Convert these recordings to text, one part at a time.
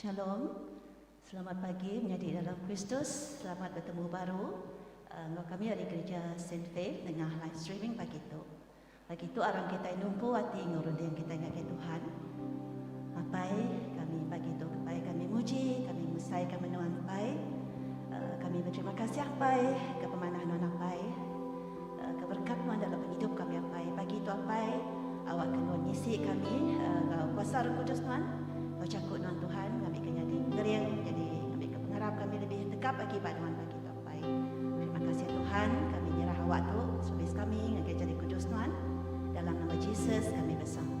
Shalom. Selamat pagi menyadi dalam Kristus. Selamat bertemu baru enggau kami ari Gereja Saint Faith nengah live streaming pagi tu. Lagi tu aram kitai numpu ati enggau runding kitai ngagai Tuhan. Apai kami pagi tu kepai kami muji kami mesai ka menua apai. Kami beterima kasih apai ke pemanah nuan apai. Ke berkat nuan dalam pengidup kami apai. Pagi tu apai awak ke nuan ngisi kami enggau kuasa roh kudus nuan. Enggau jaku nuan Tuhan kami ke nyadi pengering nyadi ngambi ke pengarap kami lebih tegap agi ba nuan pagi tu. Baik. Terima kasih Tuhan, kami nyerah awak tu, space kami ngagai jari kudus Nuan. Dalam nama Jesus kami besampi.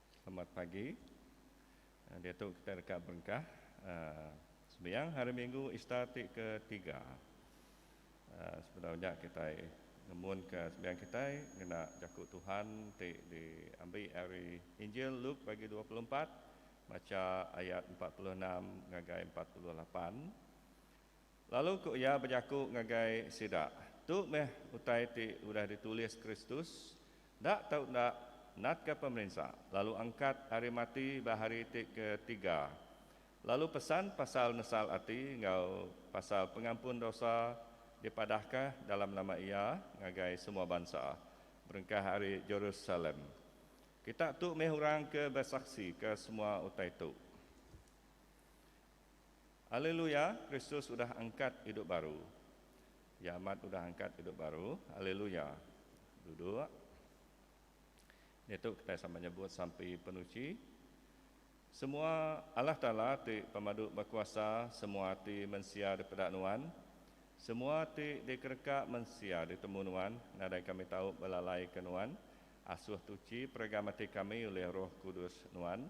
Selamat pagi. Diatu kitai deka berengkah sembiang Hari Minggu Easter ti ke tiga. Sebedau nya kitai ngemunka sembiang kitai ngena Jaku Tuhan ti diambi ari Injil Luke bagi dua puluh empat, macha ayat empat puluh enam ngagai empat puluh lapan. Lalu ku iya bejaku ngagai sida, Tu meh utai ti udah ditulis Kristus, Enda tau enda, natka pemerinsa, lalu angkat ari mati ba hari ti ke tiga, lalu pesan pasal nesal ati enggau pasal pengampun dosa dipadahka dalam nama iya ngagai semua bansa, berengkah ari Jerusalem. Kita tu meh orang ke besaksi ke semua utai tu. Haleluya, Kristus udah angkat idup baru. Iya amat udah angkat idup baru. Haleluya. Duduk. Ditu kitai sama nyebut sampi penuchi. Semua Allah Taala ti pemadu bekuasa semua ati mensia dipeda Nuan. Semua ti dikereka mensia ditemu Nuan nadai kami tau belalaika Nuan. Asuh tuchi peregang ati kami ulih Roh Kudus Nuan.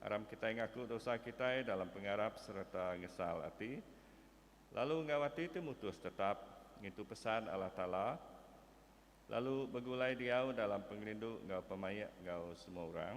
Aram kitai ngaku dosa kitai dalam pengarap sereta ngesal ati, lalu enggau ati ti mutus tetap ngintu pesan Allah Taala, lalu begulai diau dalam pengerindu enggau pemaik enggau semua orang.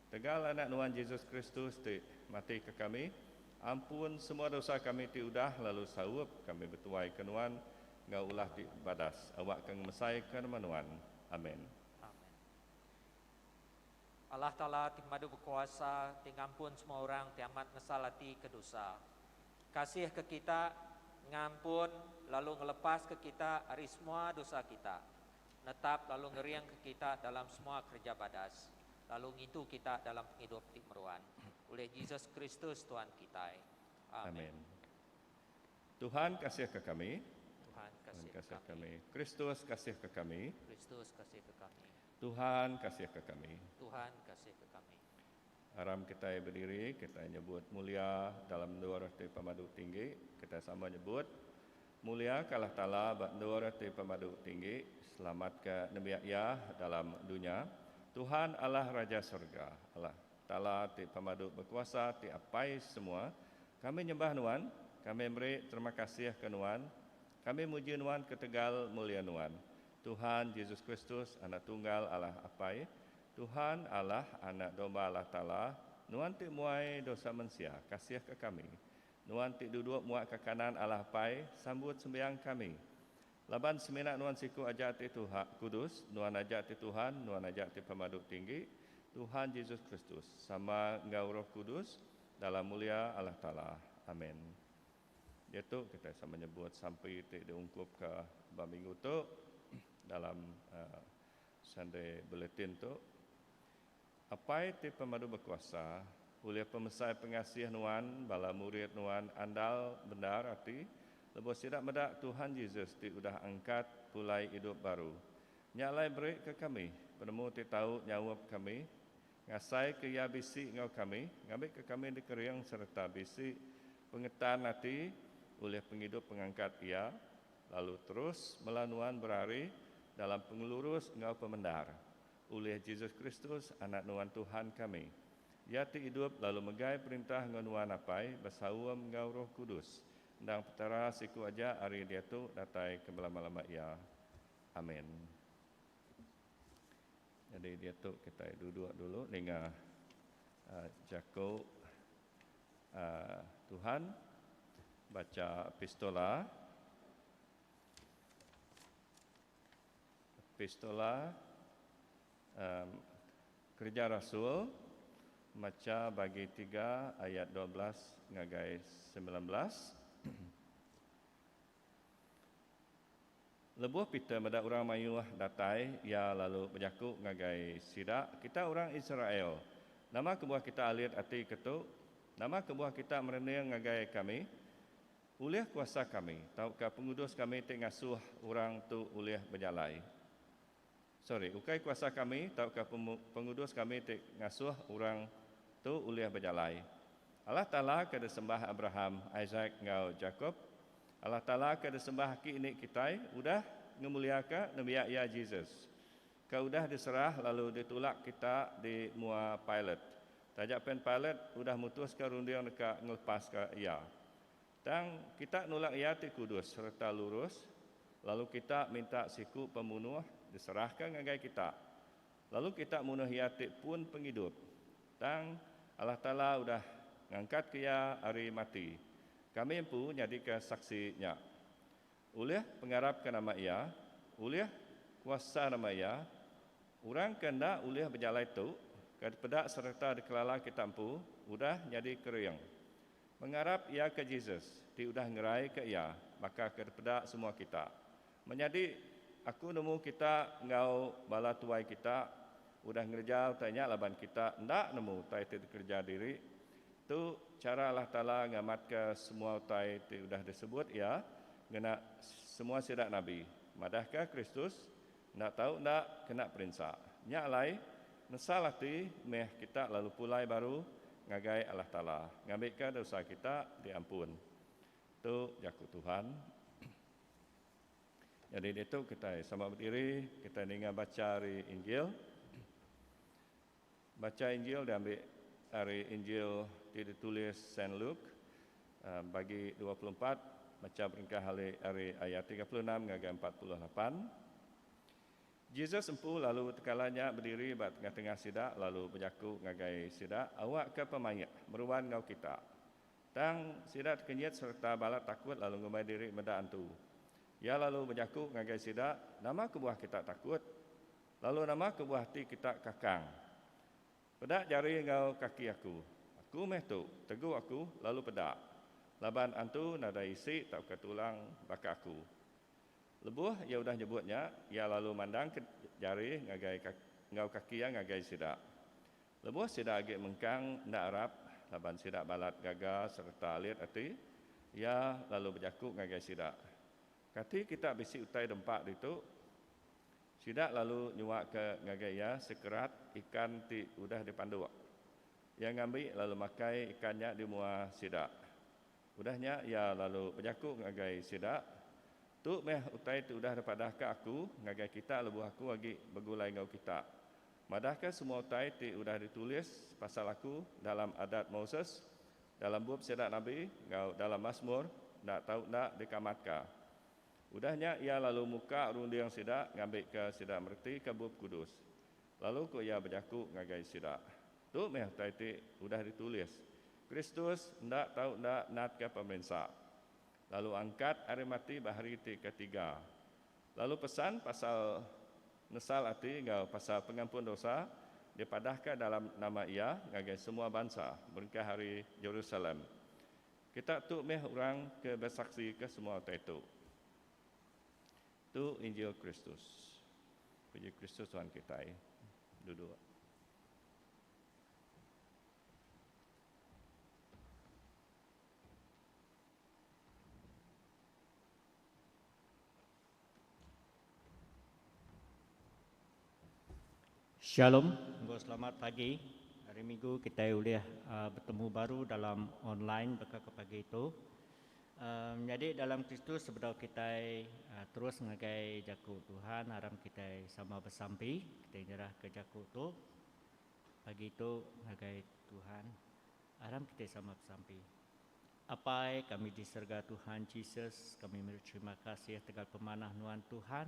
Tegal Anak Nuan Jesus Kristus ti mati ke kami, ampun semua dosa kami ti udah lalu saup kami betuai ke Nuan enggau ulah ti badas awak ke ngemesai ke nama Nuan. Amen. Amen. Allah Taala ti pemadu bekuasa ti ngampun semua orang ti amat ngesal ati ke dosa. Kasih ke kita, ngampun lalu ngelepas ke kita ari semua dosa kita, netap lalu ngering ke kita dalam semua kereja badas. lalu ngintu kita dalam pengidup ti meruan, ulih Jesus Kristus Tuhan kitai. Amin. Tuhan kasihka kami. Tuhan kasihka kami. Kristus kasihka kami. Kristus kasihka kami. Tuhan kasihka kami. Tuhan kasihka kami. Aram kitai berdiri, kitai nyebut mulia dalam endur ti pemadu tinggi, kitai sama nyebut. Muliakalah Taala ba endur ti pemadu tinggi, selamatka nembiak Iya dalam dunya. Tuhan Allah Raja Serega, Allah Taala ti pemadu bekuasa ti apai semua, kami nyembah Nuan, kami meri terima kasih ke Nuan, kami muji Nuan ketegal mulia Nuan, Tuhan Jesus Kristus, Anak Tunggal Allah Apai, Tuhan Allah, Anak Domba Allah Taala, Nuan ti muai dosa mensia, kasihka kami. Nuan ti duduk muak ke kanan Allah Apai, sambut sembiang kami. Laban semina nuan siku aja ti Tuha, kudus, nuan aja ti Tuhan, nuan aja ti Pemadu Tinggi, Tuhan Jesus Kristus, sama enggau Roh Kudus, dalam mulia Allah Taala. Amen. Diatu kitai sama nyebut sampi ti diungkupka ba minggu tu dalam Sunday Bulletin tu. Apai ti pemadu bekuasa, ulih pemesai pengasih Nuan bala murid Nuan andal bendar ati lebuh sida meda Tuhan Jesus ti udah angkat pulai idup baru. Nya alai berika kami penemu ti tau nyaup kami, ngasaika Iya bisi enggau kami ngambika kami dikering sereta bisi pengetan ati ulih pengidup pengangkat Iya, lalu terus mela Nuan berari dalam pengelurus enggau pemendar. Ulih Jesus Kristus, Anak Nuan Tuhan kami. Iya ti idup lalu megai perintah enggau Nuan Apai besaum enggau Roh Kudus. Endang Petara siku aja ari diatu datai ke belama-lama iya. Amin. Nyadi diatu kitai duduk dulu ninga jaku Tuhan bacha epistola. Epistola, em, Kereja Rasul, macha bagi tiga ayat dua belas ngagai semilan belas. Lebuh Peter meda orang mayuh datai, iya lalu bejaku ngagai sida, Kita orang Israel, nama kebuah kita alit ati ketu? Nama kebuah kita merening ngagai kami? Ulih kuasa kami tauka pengudus kami ti ngasuh orang tu ulih bejalai. Sorry, ukai kuasa kami tauka pengudus kami ti ngasuh orang tu ulih bejalai. Allah Taala ke disembah Abraham, Isak enggau Jakop, Allah Taala ke disembah aki ini kitai udah ngemuliaka nembiak Iya Jesus, ke udah diserah lalu ditulak kita di mua Pilate Taja pen Pilat udah mutuska runding deka ngelepaska Iya. Tang, kita nulak Iya ti kudus sereta lurus, lalu kita minta siku pemunuh diserahka ngagai kita, lalu kita munuh Iya ti pun pengidup. Tang, Allah Taala udah ngangkatka Iya ari mati. Kami empu nyadika saksi nya. Ulih pengarapka nama Iya, ulih kuasa nama Iya, orang ke enda ulih bejalai tu ke dipeda sereta dikelala kita empu udah nyadi kering. Pengarap Iya ke Jesus ti udah ngeraika Iya baka ke dipeda semua kita. Menyadi aku nemu kita enggau bala tuai kita udah ngereja utai nya laban kita enda nemu utai ti dikereja diri Tu chara Allah Taala ngamatka semua utai ti udah disebut Iya ngena semua sida nabi. Madahka Kristus enda tau enda kena perinsa. Nya alai, nesal ati meh kita lalu pulai baru ngagai Allah Taala ngambika dosa kita diampun. Tu jaku Tuhan. Nyadi ditu kitai sama bediri, kitai ninga bacha ari Injil. Bacha Injil diambi ari Injil ti ditulis Saint Luke, bagi dua puluh empat, macha beringkah ali ari ayat tiga puluh enam ngagai empat puluh lapan. Jesus empu lalu tekala nya bediri ba tengah-tengah sida lalu bejaku ngagai sida, Awakka pemaik, meruan enggau kita. Tang, sida tekenyit sereta balat takut lalu ngumbai diri meda antu. Iya lalu bejaku ngagai sida, Nama kebuah kita takut? Lalu nama kebuah ati kita kakang? Peda jari enggau kaki aku. Aku meh tu, tegu aku lalu peda. Laban antu nadai isi tauka tulang baka aku. Lebuh iya udah nyebut nya, iya lalu mandangka jari ngagai enggau kaki iya ngagai sida. Lebuh sida agi mengkang enda arap laban sida balat gaga sereta alit ati, iya lalu bejaku ngagai sida, Kati kita bisi utai dempa ditu? Sida lalu nyuaka ngagai iya sekerat ikan ti udah dipanduk. Iya ngambi lalu makai ikan nya di mua sida. Udah nya iya lalu bejaku ngagai sida, Tu meh utai ti udah dipadahka aku ngagai kita lebuh aku agi begulai enggau kita. Madahka semua utai ti udah ditulis pasal aku dalam Adat Moses, dalam bup sida nabi enggau dalam Masmur enda tau enda dikamatka. Udah nya iya lalu muka runding sida ngambika sida meretika Bup Kudus. Lalu ko iya bejaku ngagai sida, Tu meh utai ti udah ditulis, Kristus enda tau enda natka pemerinsa, lalu angkat ari mati ba hari ti ke tiga, lalu pesan pasal nesal ati enggau pasal pengampun dosa dipadahka dalam nama iya ngagai semua bansa berengkah ari Jerusalem. Kita tu meh orang ke besaksika semua utai tu. Tu injil Kristus. Puji Kristus Tuhan kitai. Duduk. Shalom enggau selamat pagi. Hari Minggu kitai ulih betemu baru dalam online baka ke pagi tu. Menyadi dalam Kristus sebedau kitai terus ngagai Jaku Tuhan aram kitai sama besampi. Kitai nyerahka jaku tu pagi tu ngagai Tuhan aram kitai sama besampi. Apai kami di serega Tuhan Jesus kami meri terima kasih tegal pemanah nuan Tuhan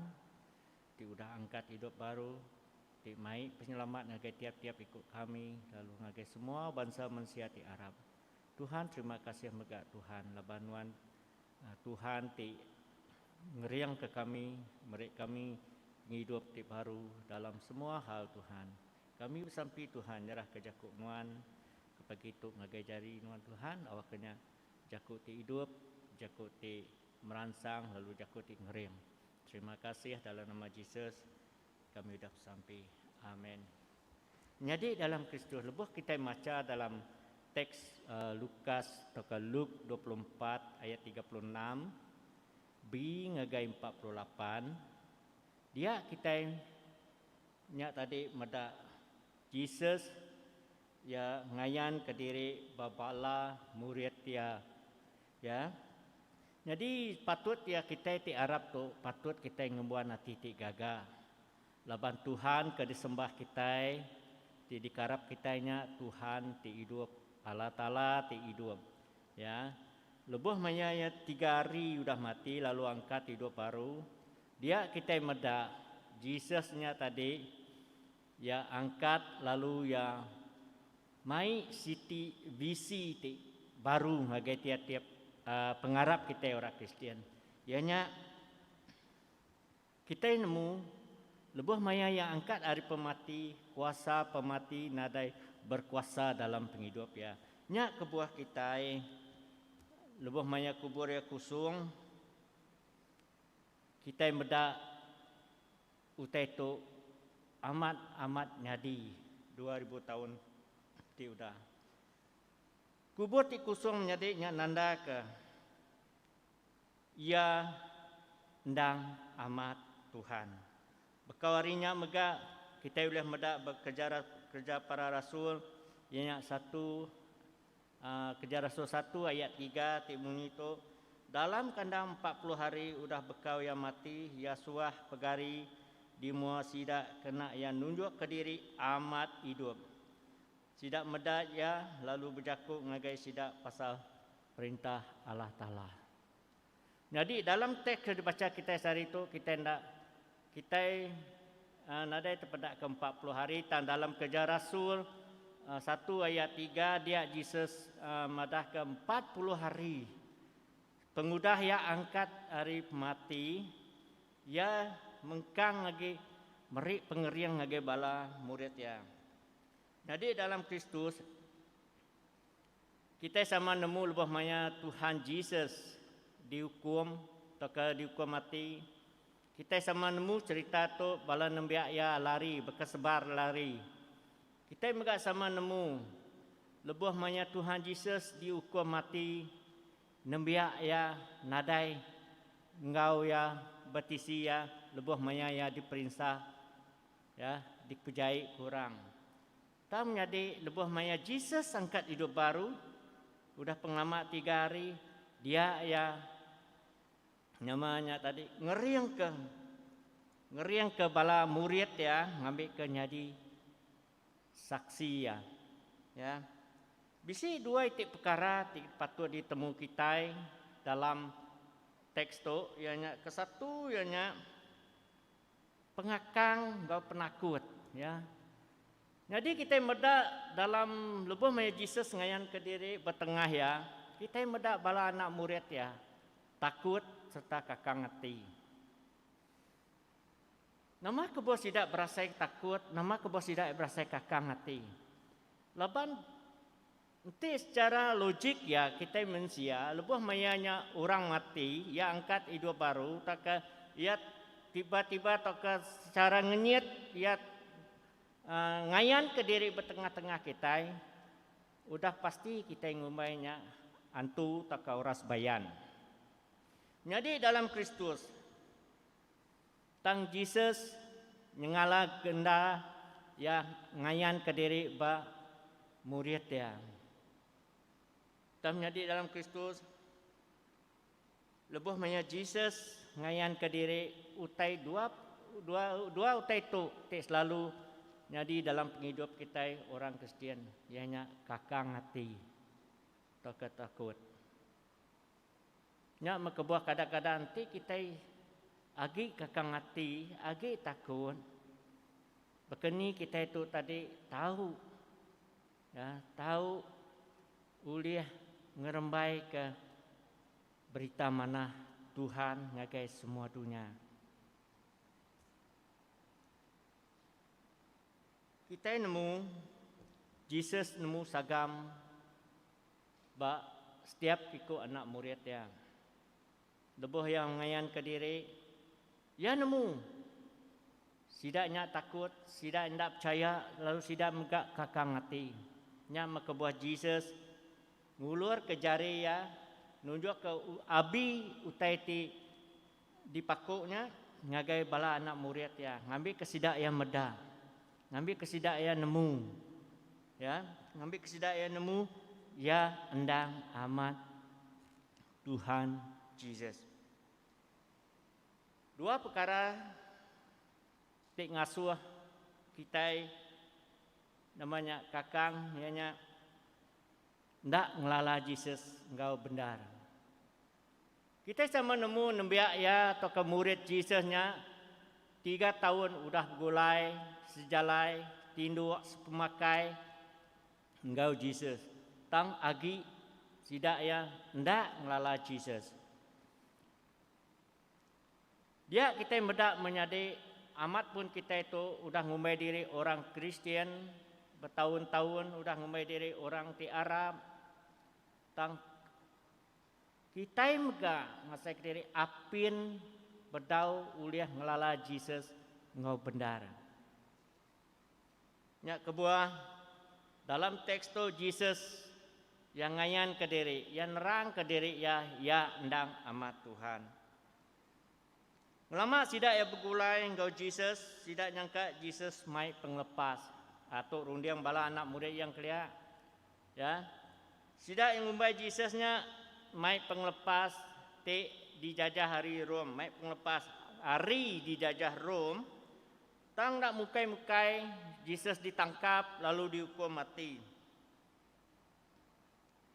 ti udah angkat idup baru ti mai penyelamat ngagai tiap tiap iku kami lalu ngagai semua bansa mensia ti arap Tuhan terima kasih mega Tuhan laban nuan Tuhan ti ngering ke kami meri kami pengidup ti baru dalam semua hal Tuhan kami besampi Tuhan nyerah ke jaku nuan Ke pagi tu ngagai jari nuan Tuhan awakka nya jaku ti idup, jaku ti meransang lalu jaku ti ngering. Terima kasih dalam nama Jesus kami udah besampi. Amen. Nyadi dalam Kristus lebuh kitai macha dalam teks uh, Lukas tauka Luke 24 ayat 36 B ngagai 48 dia kitai nya tadi meda Jesus Iya ngayanka diri ba bala murid iya. Ya. Nyadi patut iya kitai ti arap tu patut kitai ngembuan ati ti gaga. Laban Tuhan ke disembah kitai, ti dikarap kitai nya Tuhan ti idup, Allah Taala ti idup. Ya. Lebuh maya iya tiga hari udah mati lalu angkat idup baru, dia kitai meda Jesus nya tadi. Iya angkat lalu iya mai siti visi ti baru ngagai tiap-tiap pengarap kitai orang Kristian, iya nya kitai nemu lebuh maya iya angkat ari pemati, kuasa pemati nadai berkuasa dalam pengidup iya. Nya kebuah kitai lebuh maya kubur iya kusung, kitai meda Utai tu amat amat nyadi dua ribu taun ti udah. Kubur ti kusung menyadi nya nandaka iya endang amat Tuhan. Bekau ari nya mega kitai ulih meda ba kereja para rasul iya nya satu A Keja Rasul satu ayat tiga ti munyi tu, Dalam kandang empat puluh hari udah bekau iya mati, iya suah pegari di mua sida kena iya nunjukka diri amat idup. Sida meda iya lalu bejaku ngagai sida pasal Perintah Allah Taala. Nyadi dalam teks ke dibacha kitai sehari tu kitai enda kitai nadai tepeda ke empat puluh hari tang dalam Kereja Rasul satu ayat tiga dia Jesus madah ke empat puluh hari pengudah iya angkat ari pemati iya mengkang agi meri pengering ngagai bala murid iya. Nyadi dalam Kristus. Kitai sama nemu lebuh maya Tuhan Jesus diukum tauka diukum mati. Kitai sama nemu cherita tu bala nembiak iya lari bekesebar lari. Kitai mega sama nemu lebuh maya Tuhan Jesus diukum mati, nembiak iya nadai enggau iya betisi iya lebuh maya iya diperinsa, ya, dikejai ke orang. Tang nyadi lebuh maya Jesus angkat idup baru, udah pengelama tiga hari, dia iya, nama nya tadi, ngeringka ngeringka bala murid iya ngambika nyadi saksi iya. Ya. Bisi dua iti pekara ti patut ditemu kitai dalam teks tu iya nya ke satu iya nya pengakang enggau penakut. Ya. Nyadi kitai meda dalam lebuh maya Jesus ngayanka diri betengah iya, kitai meda bala anak murid iya takut sereta kakang ati. Nama kebuah sida berasai takut, nama kebuah sida berasai kakang ati? Laban Enti sechara logik iya kitai mensia lebuh maya nya orang mati iya angkat idup baru tauka iya tiba-tiba tauka sechara ngenyit iya ngayanka diri ba tengah-tengah kitai udah pasti kitai ngumbai nya antu tauka orang sebayan. Nyadi dalam Kristus. Tang Jesus nyengala ke enda Iya ngayanka diri ba murid Iya. Tang menyadi dalam Kristus, lebuh maya Jesus ngayanka diri, utai dua dua dua utai tu ti selalu nyadi dalam pengidup kitai orang Kristian iya nya kakang ati tauka takut. Nya meh kebuah kadang-kadang enti kitai agi kakang ati, agi takut, baka ni kitai tu tadi tau ya tau ulih ngerembaika berita manah Tuhan ngagai semua dunya. Kitai nemu Jesus nemu sagam Ba setiap iku anak murid iya, lebuh iya ngayanka diri, iya nemu sida nya takut, sida enda pechaya lalu sida mega kakang ati. Nya meh kebuah Jesus ngulurka jari iya nunjukka Abi utai ti Dipaku nya ngagai bala anak murid iya, ngambika sida iya meda, ngambika sida iya nemu, ya, ngambika sida iya nemu iya endang amat Tuhan Jesus. Dua pekara ti ngasuh kitai nama nya kakang iya nya enda ngelala Jesus enggau bendar. Kitai sama nemu nembiak iya tauka murid Jesus nya tiga taun udah begulai sejalai tinduk sepemakai enggau Jesus tang agi sida iya enda ngelala Jesus. Dia kitai meda menyadi amat pun kitai tu udah ngumbai diri orang Kristian betaun-taun udah ngumbai diri orang ti Arab, Tang kitai mega ngasaika diri apin bedau ulih ngelala Jesus enggau bendar. Nya kebuah, dalam teks tu Jesus Iya ngayanka diri iya nerangka diri iya, iya endang Amat Tuhan. Ngelama sida iya begulai enggau Jesus, sida nyangka Jesus mai pengelepas. Aa tu runding bala anak murid iya kelia. Ya. Sida iya ngumbai Jesus nya mai pengelepas ti dijajah ari Rome, mai pengelepas ari dijajah Rome. Tang enda mukai-mukai Jesus ditangkap lalu diukum mati.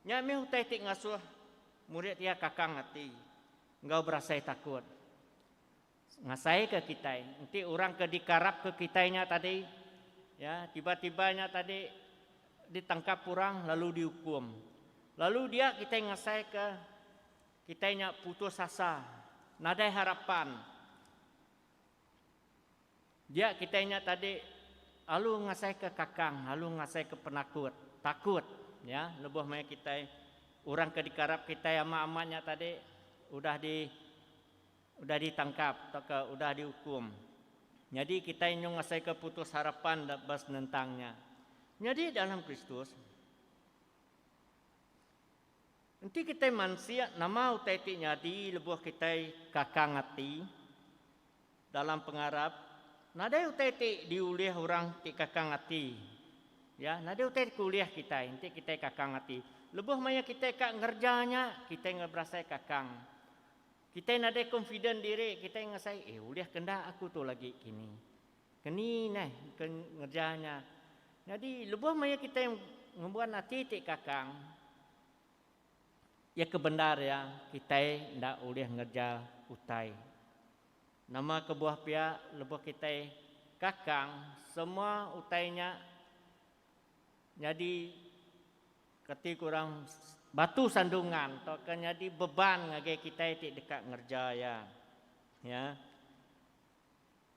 Nya mih utai ti ngasuh murid iya kakang ati enggau berasai takut. Ngasaika kitai enti orang ke dikarapka kitai nya tadi iya tiba-tiba nya tadi ditangkap orang lalu diukum. Lalu dia kitai ngasaika kitai nya putus asa, nadai harapan. Dia kitai nya tadi alu ngasaika kakang, alu ngasaika penakut, takut ya lebuh maya kitai orang ke dikarap kitai amat-amat nya tadi udah di udah ditangkap tauka udah diukum. Nyadi kitai nyau ngasaika putus harapan ba senentang nya. Nyadi dalam Kristus. Enti kitai mansik nama utai ti nyadi lebuh kitai kakang ati dalam pengarap, nadai utai ti diulih orang ti kakang ati. Ya, nadai utai ti keulih kitai enti kitai kakang ati. Lebuh maya kitai ka ngereja nya, kitai enggai berasai kakang. Kitai nadai confident diri, kitai ngasai, eh ulih ke enda aku tu lagi kini. Keni neh ke ngereja nya. Nyadi lebuh maya kitai ngembuan ati ti kakang, iya ke bendar iya kitai enda ulih ngereja utai. Nama kebuah pia lebuh kitai kakang semua utai nya nyadi kati ku orang batu sandungan tauka nyadi beban ngagai kitai ti deka ngereja iya. Iya.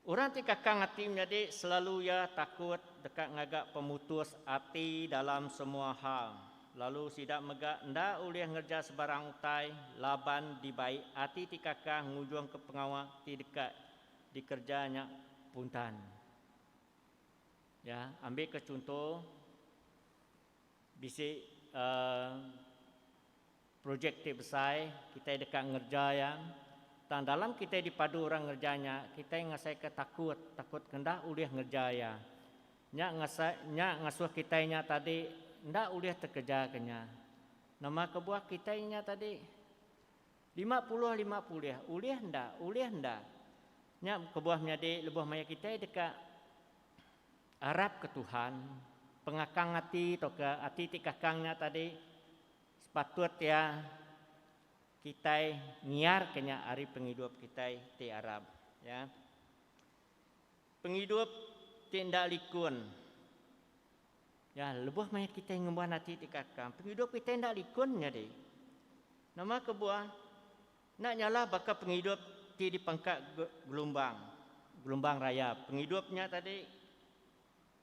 Orang ti kakang ati menyadi selalu iya takut deka ngaga pemutus ati dalam semua hal, lalu sida mega enda ulih ngereja sebarang utai laban dibai ati ti kakang ngujungka pengawa ti deka dikereja nya puntan. Ya, ambika chunto. Bisi projek ti besai kitai deka ngereja iya, tang dalam kitai dipadu orang ngereja nya, kitai ngasaika takut, takut enda ulih ngereja iya. Nya nya ngasuh kitai nya tadi enda ulih tekejaka nya. Nama kebuah kitai nya tadi? Lima puluh lima pulih, ulih enda? Ulih enda? Nya kebuah menyadi lebuh maya kitai deka arap ke Tuhan, pengakang ati tauka ati ti kakang nya tadi sepatut iya kitai ngiarka nya ari pengidup kitai ti arap ya. Pengidup ti enda likun ya lebuh maya kitai ngembuan ati ti kakang pengidup kitai enda likun nyadi. Nama kebuah Enda nyalah baka pengidup ti dipangka gelumbang, gelumbang raya. Pengidup nya tadi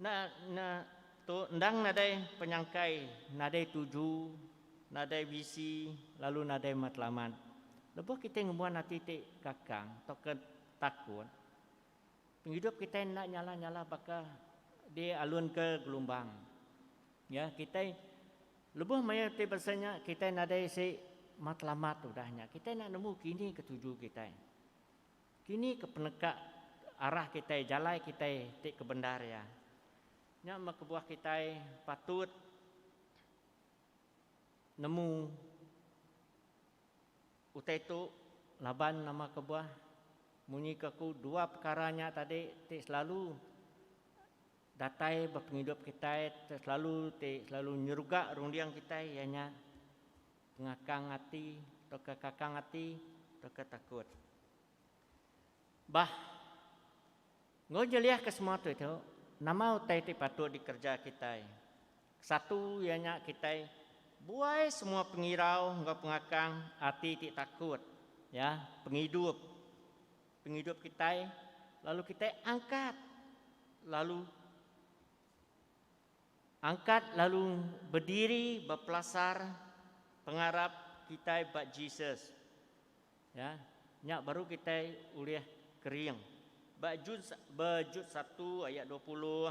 enda nya tu endang nadai penyangkai, nadai tuju, nadai visi lalu nadai matlamat. Lebuh kitai ngembuan ati ti kakang tauka takut, Pengidup kitai enda nyalah-nyalah baka dialunka gelumbang. Ya, kitai lebuh maya ti basa nya kitai nadai isi matlamat udah nya kitai enda nemu kini ke tuju kitai. Kini ke peneka arah kitai, jalai kitai ti kebendar iya. Nya meh kebuah kitai patut. nemu utai tu laban nama kebuah munyi ke aku dua pekara nya tadi ti selalu datai ba pengidup kitai selalu ti selalu nyeruga runding kitai iya nya pengakang ati tauka kakang ati tauka takut. Bah. Enggau nyeliah ke semua tu itu, nama utai ti patut dikereja kitai? Kesatu iya nya kitai buai semua pengirau enggau pengakang ati ti takut ya pengidup pengidup kitai lalu kitai angkat lalu angkat lalu bediri bepelasar pengarap kitai ba Jesus. Ya, nya baru kitai ulih kering. Ba Jun ba Jud satu ayat dua puluh,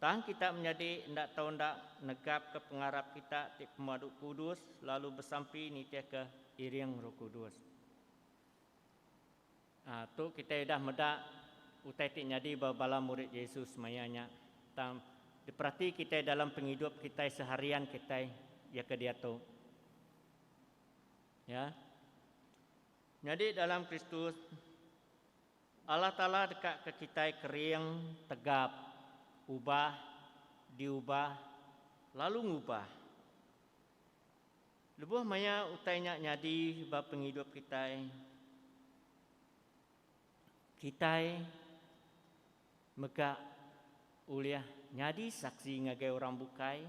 Tang kita menyadi enda tau enda negapka pengarap kita ti pemadu kudus lalu besampi nitihka iring Roh Kudus. Ah, tu kitai udah meda utai ti nyadi ba bala murid Jesus maya nya, tang diperati kitai dalam pengidup kitai seharian kitai iya ke diatu. Nya. Nyadi dalam Kristus, Allah Taala dekaka kitai kering tegap ubah, diubah, lalu ngubah. Lebuh maya utai nya nyadi ba pengidup kitai, kitai. Mega ulih nyadi saksi ngagai orang bukai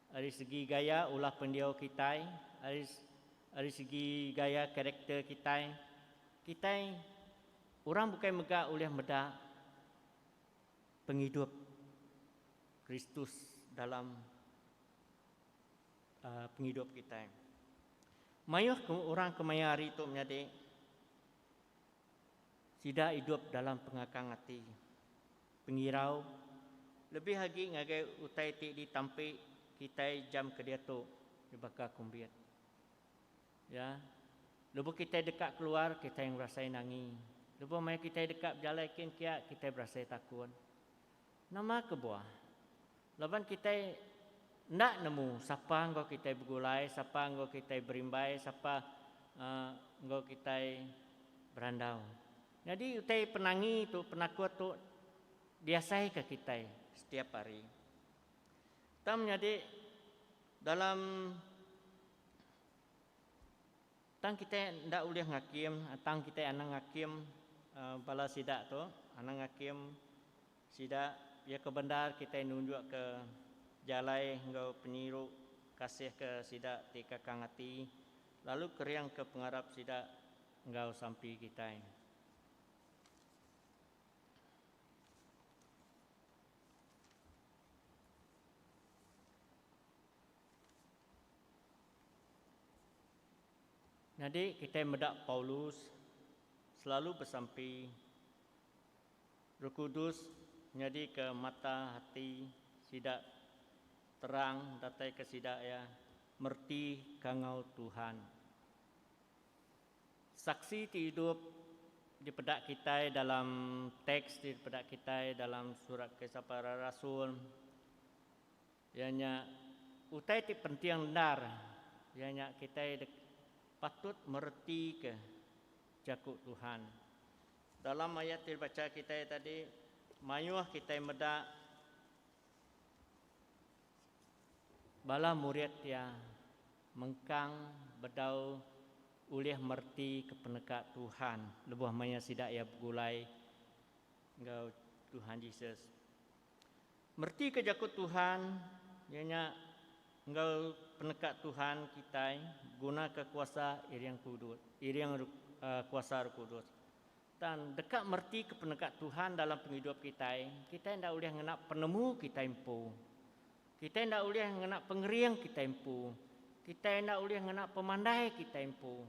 ari segi gaya ulah pendiau kitai, ari ari segi gaya karakter kitai. Kitai orang bukai mega ulih meda pengidup Kristus dalam pengidup kitai. Mayuh orang kemaya hari tu menyadi Sida idup dalam pengakang ati, pengirau, lebih agi ngagai utai ti ditampi kitai jam ke diatu di baka kumbit. Ya, lebuh kitai deka keluar, kitai ngerasai nangi. Lebuh maya kitai deka bejalai kin kia, kitai berasai takun. Nama kebuah? Laban kitai enda nemu sapa enggau kitai begulai, sapa enggau kitai berimbai, sapa enggau kitai berandau. Nyadi utai penangi tu, penakut tu diasaika kitai setiap hari. Tang menyadi dalam. Tang kitai enda ulih ngakim, tang kitai anang ngakim bala sida tu, anang ngakim sida, iya ke bendar kitai nunjukka jalai enggau penyiru kasih ke sida ti kakang ati, lalu keringka pengarap sida enggau sampi kitai. Nyadi kitai meda Paulus selalu besampi Roh Kudus nyadika mata ati sida terang dataika sida iya mereti kangau Tuhan. Saksi ti idup dipeda kitai dalam teks ti dipeda kitai dalam surat Kisah Para Rasul. Iya nya utai ti penting endar, iya nya kitai dek patut meretika Jaku Tuhan. Dalam ayat ti dibacha kitai tadi, mayuh kitai meda bala murid iya mengkang bedau ulih meretika peneka Tuhan lebuh maya sida iya begulai enggau Tuhan Jesus. Meretika Jaku Tuhan, iya nya enggau peneka Tuhan kitai begunaka kuasa iring kudus, iring kuasa Roh Kudus. Tan deka meretika peneka Tuhan dalam pengidup kitai, kitai enda ulih ngena penemu kitai empu. Kitai enda ulih ngena pengering kitai empu. Kitai enda ulih ngena pemandai kitai empu.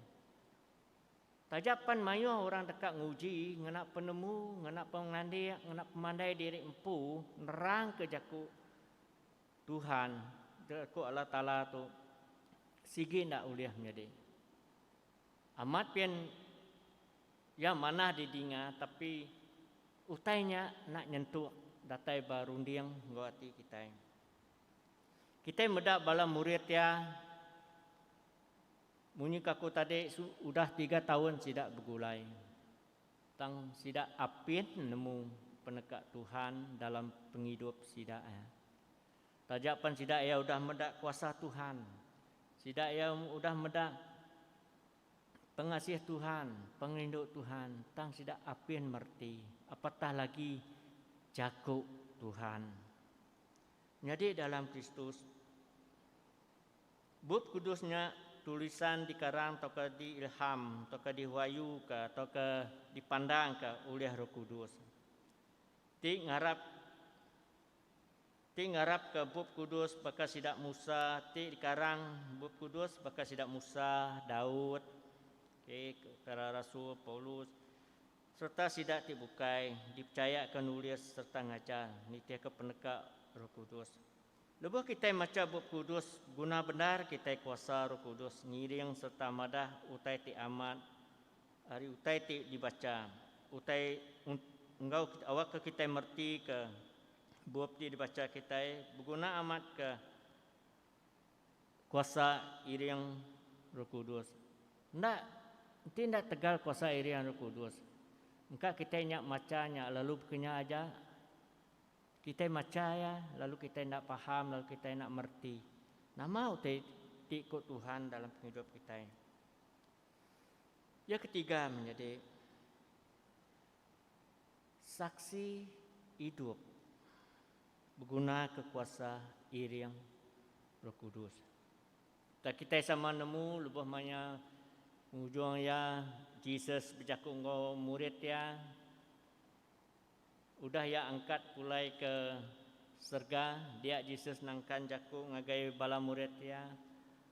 Taja pan mayuh orang deka nguji ngena penemu, ngena pengelandik, ngena pemandai diri empu nerangka jaku Tuhan, jaku Allah Taala tu sigi enda ulih menyadi. Amat pin iya manah didinga tapi utai nya enda nyentuk datai ba runding enggau ati kitai. Kitai meda bala murid iya Munyi kaku tadi udah tiga taun sida begulai tang sida apin nemu peneka Tuhan dalam pengidup sida iya. Taja pan sida iya udah meda kuasa Tuhan, sida iya udah meda pengasih Tuhan, pengerindu Tuhan tang sida apin mereti apatah lagi jaku Tuhan. Nyadi dalam Kristus. Bup Kudus nya tulisan dikarang tauka diilham tauka dihuayuka tauka dipandangka ulih Roh Kudus. Ti ngarap Ti ngarapka Bup Kudus baka sida Musa ti dikarang Bup Kudus baka sida Musa, Daud, okey para rasul, Paulus, sereta sida ti bukai dipechayaka nulis sereta ngajar nitihka peneka Roh Kudus. Lebuh kitai macha Bup Kudus, guna bendar kitai kuasa Roh Kudus ngiring sereta madah utai ti amat ari utai ti dibacha. Utai enggau awakka kitai meretika bup ti dibacha kitai beguna amat ke kuasa iring Roh Kudus. Enda enti enda tegal kuasa iring Roh Kudus, engka kitai nya macha nya lalu baka nya aja. Kitai macha iya, lalu kitai enda paham, lalu kitai enda mereti nama utai ti ku Tuhan dalam pengidup kitai. Iya ketiga menyadi saksi idup begunaka kuasa iring Roh Kudus. Tang kitai sama nemu lebuh maya ngujung iya Jesus bejaku enggau murid iya, Udah iya angkat pulai ke serega, dia Jesus nangkan jaku ngagai bala murid iya,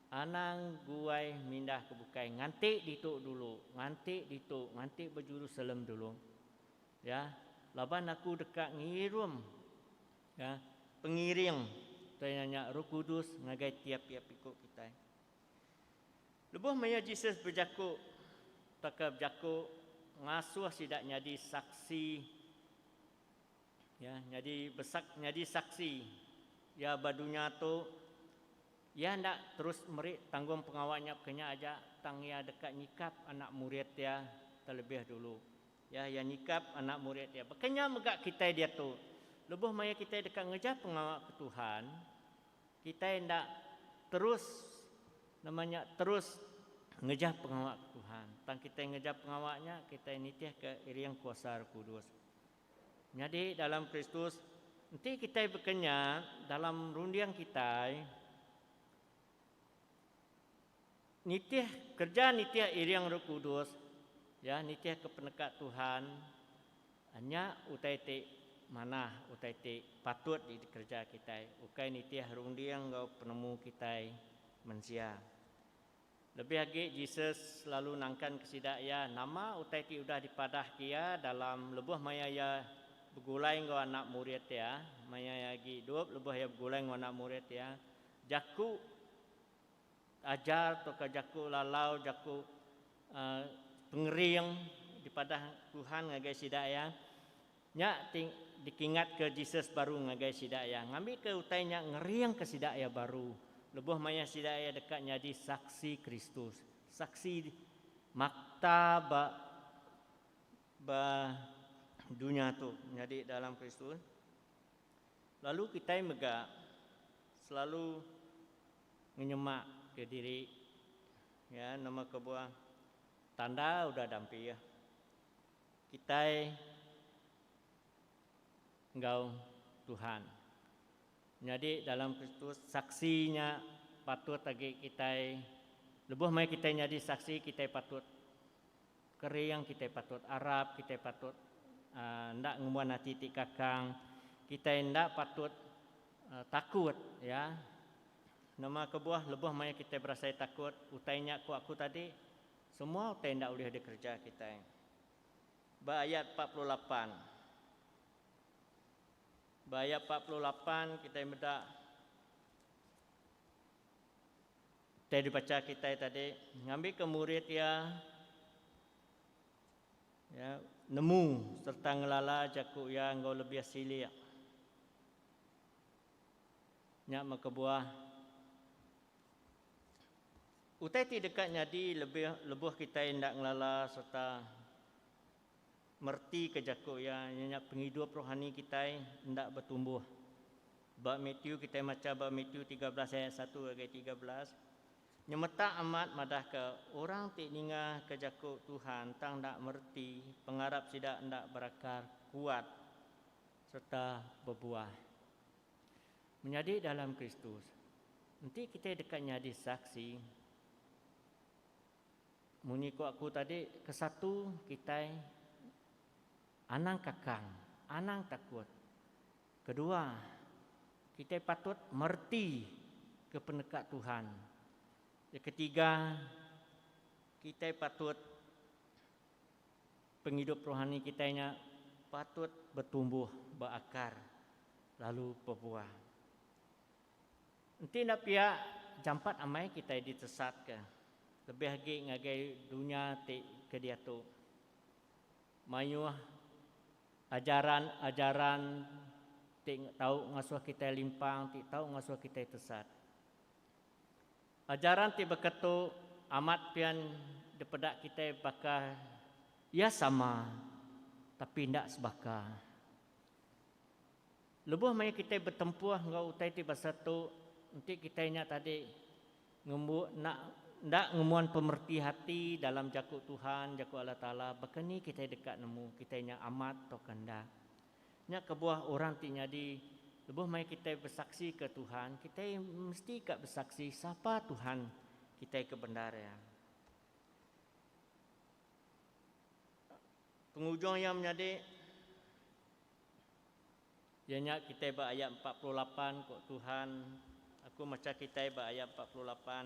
Anang guai mindah ke bukai, nganti ditu dulu, nganti ditu, nganti ba Jerusalem dulu. Ya, laban aku deka ngirum ya, pengiring, tuai nya Roh Kudus ngagai tiap-tiap iku kitai. Lebuh maya Jesus bejaku tauka bejaku ngasuh sida nyadi saksi iya nyadi besak nyadi saksi iya ba dunya tu, iya enda terus meri tanggungpengawa nya baka nya aja tang iya deka nyikap anak murid iya telebih dulu. Iya iya nyikap anak murid iya. Baka nya mega kitai diatu. Lebuh maya kitai deka ngereja pengawa ke Tuhan, Kitai enda terus nama nya terus ngejah pengawa ke Tuhan. Tang kitai ngejah pengawa nya kitai nitihka iring kuasa Roh Kudus. Nyadi dalam Kristus enti kitai bekenyak dalam runding kitai, Nitih kereja nitih iring Roh Kudus iya nitihka peneka Tuhan nya utai ti manah utai ti patut jadi kereja kitai ukai nitih runding enggau penemu kitai mensia. Lebih agi Jesus selalu nangkanka sida iya nama utai ti udah dipadahka iya dalam lebuh maya iya begulai enggau anak murid iya maya iya agi idup lebuh iya begulai enggau anak murid iya jaku Ajar tauka jaku lalau jaku pengering dipadah Tuhan ngagai sida iya. Nya ti dikingatka Jesus baru ngagai sida iya ngambika utai nya ngeringka sida iya baru lebuh maya sida iya deka nyadi Saksi Kristus. Saksi makta ba ba dunya tu nyadi dalam Kristus. Lalu kitai mega selalu. Ngenyemak ke diri ya nama kebuah tanda udah dampih kitai enggau Tuhan. Nyadi dalam Kristus saksi nya patut agi kitai lebuh meh kitai nyadi saksi kitai patut. Kering kitai patut arap kitai patut enda ngembuan ati ti kakang kitai enda patut takut ya nama kebuah lebuh maya kitai berasai takut utai nya ku aku tadi semua utai enda ulih dikereja kitai ba ayat empat puluh lapan ba ayat empat puluh lapan kitai meda. Teks dibacha kitai tadi ngambika murid iya nemu sereta ngelala jaku iya enggau lebih silik. Nya meh kebuah, utai ti deka nyadi lebih lebuh kitai enda ngelala sereta. Mertika jaku iya iya nya pengidup rohani kitai enda betumbuh. Ba Matthew kitai macha ba Matthew tiga belas ayat satu ngagai tiga belas, nyemetak amat madahka orang ti ningaka jaku Tuhan tang enda mereti pengarap sida enda berakar kuat sereta bebuah. Menyadi dalam Kristus, enti kitai deka nyadi saksi. Munyi ku aku tadi, ke satu kitai anang kakang, anang takut. Kedua, kitai patut mereti ke peneka Tuhan. Ke ketiga, kitai patut pengidup rohani kitai nya patut betumbuh, beakar lalu pebuah. Enti enda pia, jampat amai kitai ditesatka, lebih agi ngagai dunya ti ke diatu. Mayuh ajaran-ajaran ti tau ngasuh kitai limpang ti tau ngasuh kitai tesat. Ajaran ti baka tu amat pian dipeda kitai baka iya sama tapi enda sebaka. Lebuh maya kitai betempuh enggau utai ti basa tu, enti kitai nya tadi ngembu enda enda ngembuan pemereti ati dalam Jaku Tuhan, Jaku Allah Taala, baka ni kitai deka nemu kitai nya amat tauka enda? Nya kebuah orang ti nyadi lebuh maya kitai besaksika Tuhan, kitai mesti ka besaksi sapa Tuhan kitai ke bendar iya. Pengujung iya menyadi. Iya nya kitai ba ayat empat puluh lapan ko Tuhan aku mecha kitai ba ayat empat puluh lapan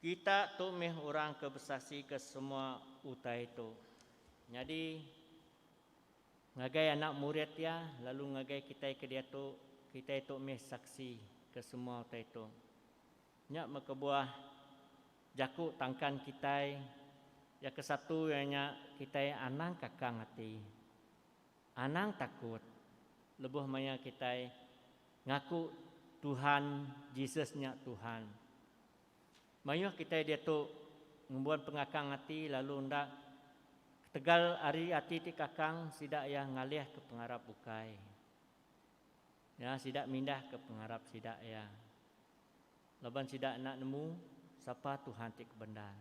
kita tu meh orang ke besasi ke semua utai tu nyadi ngagai anak murid iya lalu ngagai kitai ke diatu kitai tu meh saksi ke semua utai tu. Nya meh kebuah jaku tangkan kitai iya ke satu iya nya kitai anang kakang ati, anang takut lebuh maya kitai ngaku Tuhan Jesus nya Tuhan. Mayuh kitai diatu ngembuan pengakang ati lalu enda ketegal ari ati ti kakang sida iya ngalihka pengarap bukai. Nya sida mindahka pengarap sida iya laban sida enda nemu sapa Tuhan ti kebendar.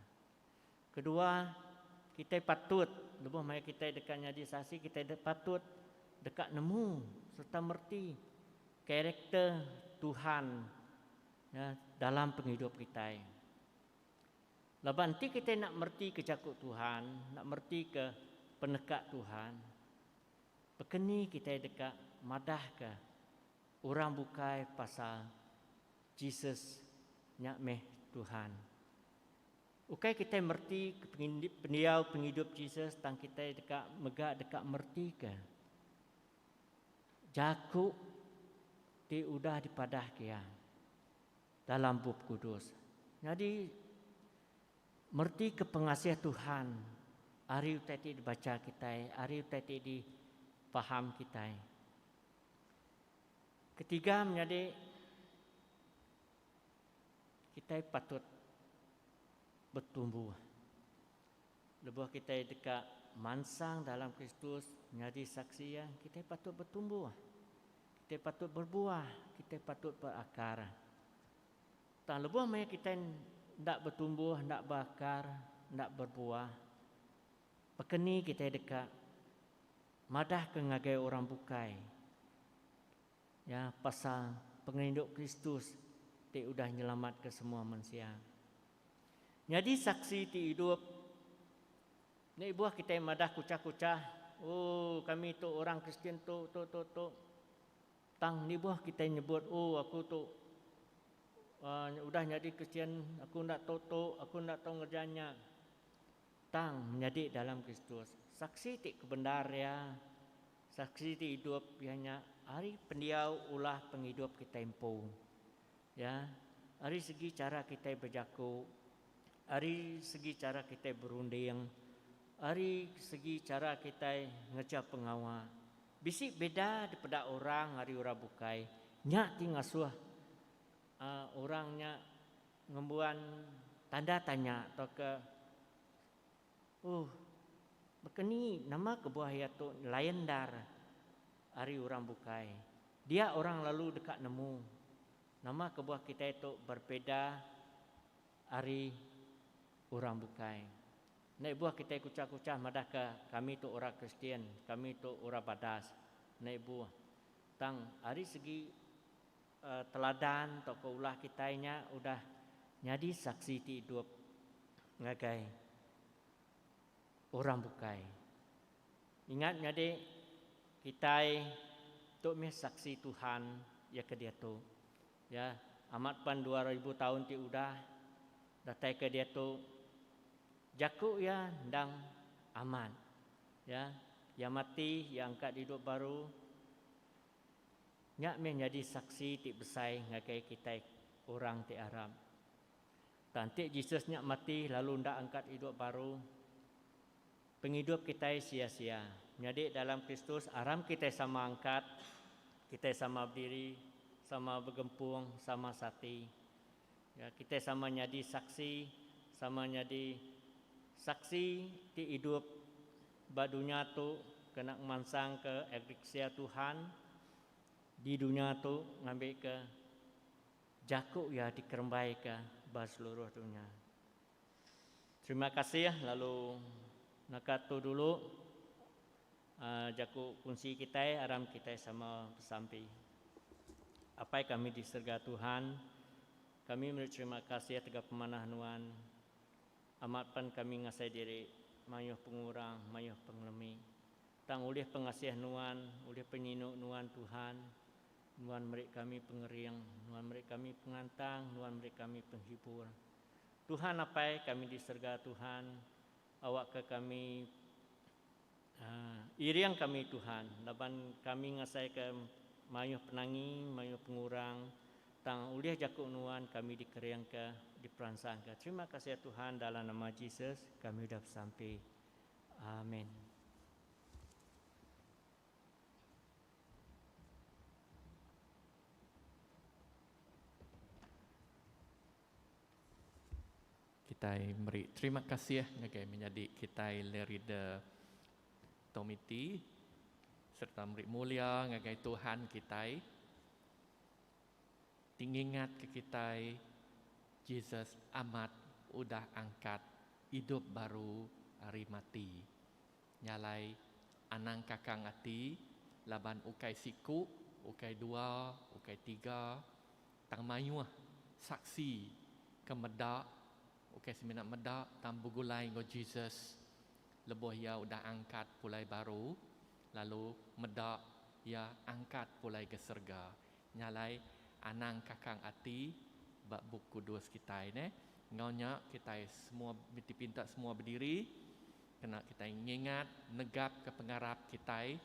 Kedua, kitai patut lebuh maya kitai deka nyadi saksi kitai patut deka nemu sereta mereti karakter Tuhan nya dalam pengidup kitai. Laban enti kitai enda meretika jaku Tuhan, enda meretika peneka Tuhan, Bekeni kitai deka madahka orang bukai pasal Jesus nya meh Tuhan? Ukai kitai mereti pendiau pengidup Jesus tang kitai deka mega deka meretika jaku ti udah dipadah ke iya. Dalam Bup Kudus. Nyadi, meretika pengasih Tuhan ari utai ti dibacha kitai, ari utai ti difaham kitai. Ketiga menyadi, kitai patut betumbuh. Lebuh kitai deka mansang dalam Kristus nyadi saksi Iya, kitai patut betumbuh. Kitai patut berbuah, kitai patut berakar. Tang lebuh maya kitai enda betumbuh, enda beakar, enda berbuah, baka ni kitai deka madahka ngagai orang bukai ya pasal pengerindu Kristus ti udah nyelamatka semua mensia. Nyadi saksi ti idup. Nya ibuh kitai madah kuchah-kuchah, Oh, kami tu orang Kristian tu, tu, tu, tu. Tang nibuh kitai nyebut, Oh, aku tu uhh udah nyadi Kristian, aku enda tu, tu, aku enda tu ngereja nya. Tang, menyadi dalam Kristus, saksi ti kebendar iya, saksi ti idup iya nya ari pendiau ulah pengidup kitai empu. Ya, ari segi chara kitai bejaku, ari segi chara kitai berunding, ari segi chara kitai ngereja pengawa, bisi beda dipeda orang ari orang bukai. Nya ti ngasuh orang nya ngembuan tanda tanya tauka. Uhh. Baka ni nama kebuah iya tu nyelayan endar ari orang bukai. Dia orang lalu deka nemu nama kebuah kitai tu berbeza ari orang bukai. Enda ibuh kitai kuchah-kuchah madahka kami tu orang Kristian, kami tu orang badas. Enda ibuh. Tang ari segi. Teladan tauka ulah kitai nya udah nyadi saksi ti idup ngagai orang bukai. Ingat nyadi, kitai tu mih Saksi Tuhan iya ke diatu. Ya, amat pan dua ribu taun ti udah datai ke diatu, jaku iya endang amat. Ya, iya mati, iya angkat didup baru. Nya meh nyadi saksi ti besai ngagai kitai orang ti arap. Tang ti Jesus nya mati lalu enda angkat idup baru, pengidup kitai sia-sia. Nyadi dalam Kristus aram kitai sama angkat, kitai sama bediri, sama begempung, sama sati. Nya kitai sama nyadi saksi, sama nyadi saksi ti idup ba dunya tu kena ngemansangka agriksia Tuhan di dunya tu ngambika jaku iya dikerembaika ba seluruh dunya. Terima kasih lalu naka tu dulu. A Jaku kunsi kitai aram kitai sama besampi. Apai kami di serega Tuhan, kami meri terima kasih tegap pemanah Nuan. Amat pan kami ngasai diri mayuh pengurang, mayuh pengelemi. Tang ulih pengasih Nuan, ulih penyinu Nuan Tuhan, Nuan meri kami pengering, Nuan meri kami pengantang, Nuan meri kami penghibur. Tuhan Apai kami di serega Tuhan, awakka kami. Iring kami Tuhan laban kami ngasaika mayuh penangi, mayuh pengurang, tang ulih jaku nuan kami dikeringka, diperansangka. Terima kasih ya Tuhan dalam nama Jesus kami udah besampi. Amin. Kitai meri terima kasih ngagai menyadi kitai Lerida Tomiti sereta meri mulia ngagai Tuhan kitai ti ngingatka kitai Jesus amat udah angkat idup baru ari mati. Nya alai anang kakang ati laban ukai siku, ukai dua, ukai tiga Tang mayuh Saksi ke meda, ukai semina meda tang begulai enggau Jesus lebuh iya udah angkat pulai baru lalu meda iya angkat pulai ke serega. Nya alai anang kakang ati ba Bup Kudus kitai neh. Enggau nya kitai semua dipinta semua bediri kena kitai ngingat negapka pengarap kitai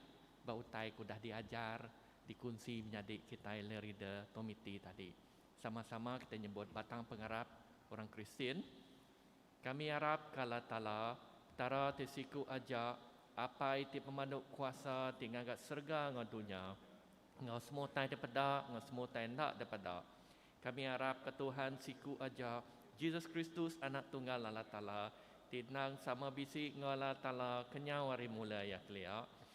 ba utai ke udah diajar Dikunsi menyadi kitai le reader komiti tadi. Sama-sama kitai nyebut batang pengarap orang Kristian. Kami arap ke Allah Taala, Petara ti siku aja, Apai ti pemandu kuasa ti ngaga serega enggau dunya, enggau semua utai daripada enggau semua utai enda daripada. Kami arap ke Tuhan siku aja, Jesus Kristus Anak Tunggal Allah Taala, ti endang sama bisi enggau Allah Taala kenyau ari mula iya kelia,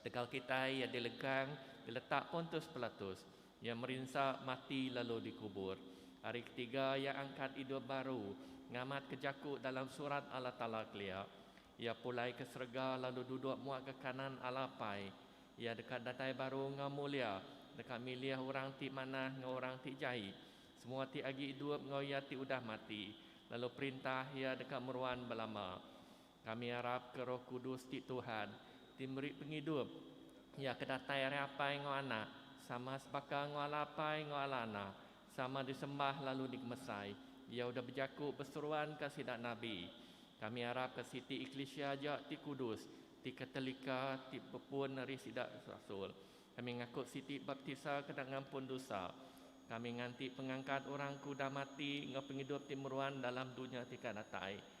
Tegal kitai iya dilekang, diletak ontus pelatus. Iya merinsa mati lalu dikubur. Hari ketiga iya angkat idup baru, ngamatka jaku dalam Surat Allah Taala kelia. Iya pulai ke serega lalu duduk muakka kanan Allah Apai. Iya deka datai baru enggau mulia, deka milih orang ti manah enggau orang ti jai, semua ti agi idup enggau iya ti udah mati, lalu perintah iya deka meruan belama. Kami arapka Roh Kudus ti Tuhan, ti meri pengidup, iya ke datai ari Apai enggau Anak, sama sebaka enggau ala Apai enggau ala Anak, sama disembah lalu digemesai. Iya udah bejaku beseruanka sida nabi. Kami arapka siti eklisia aja ti kudus, ti Katolika, ti bepun ari sida rasul. Kami ngaku siti baptisa kena ngampun dusa. Kami nganti pengangkat orang ke udah mati enggau pengidup ti meruan dalam dunya ti ka datai.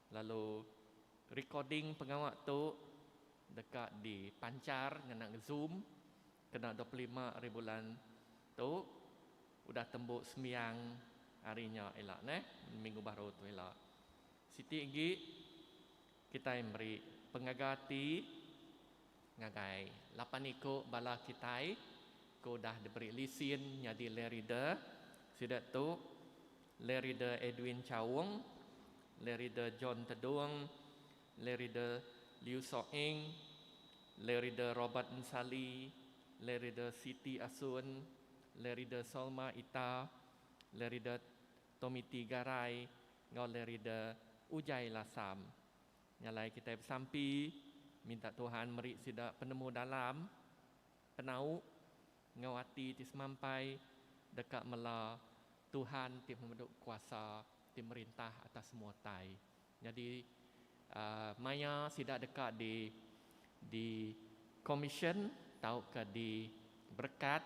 Lalu recording pengawa tu deka dipanchar ngena zoom kena dua puluh lima ari bulan tu udah tembu sembiang ari nya ila neh minggu baru tu ila. Siti agi kitai meri pengaga ati. Ngagai lapan iku bala kitai ke udah diberi lisin nyadi Lay Reader, sida tu, Lay Reader Edwin Chaung, Lay Reader John Tedung, Lay Reader Liew Soh Eng, Lay Reader Robert Nsali, Lay Reader Siti Asun, Lay Reader Solma Ita, Lay Reader Tomiti Garai enggau Lay Reader Ujai Lasam. Nya alai kitai besampi minta Tuhan meri sida penemu dalam, penau, enggau ati ti semampai deka mela Tuhan ti pemedu kuasa ti merintah atas semua utai. Nyadi aaa maya sida deka di di commission tauka di berekat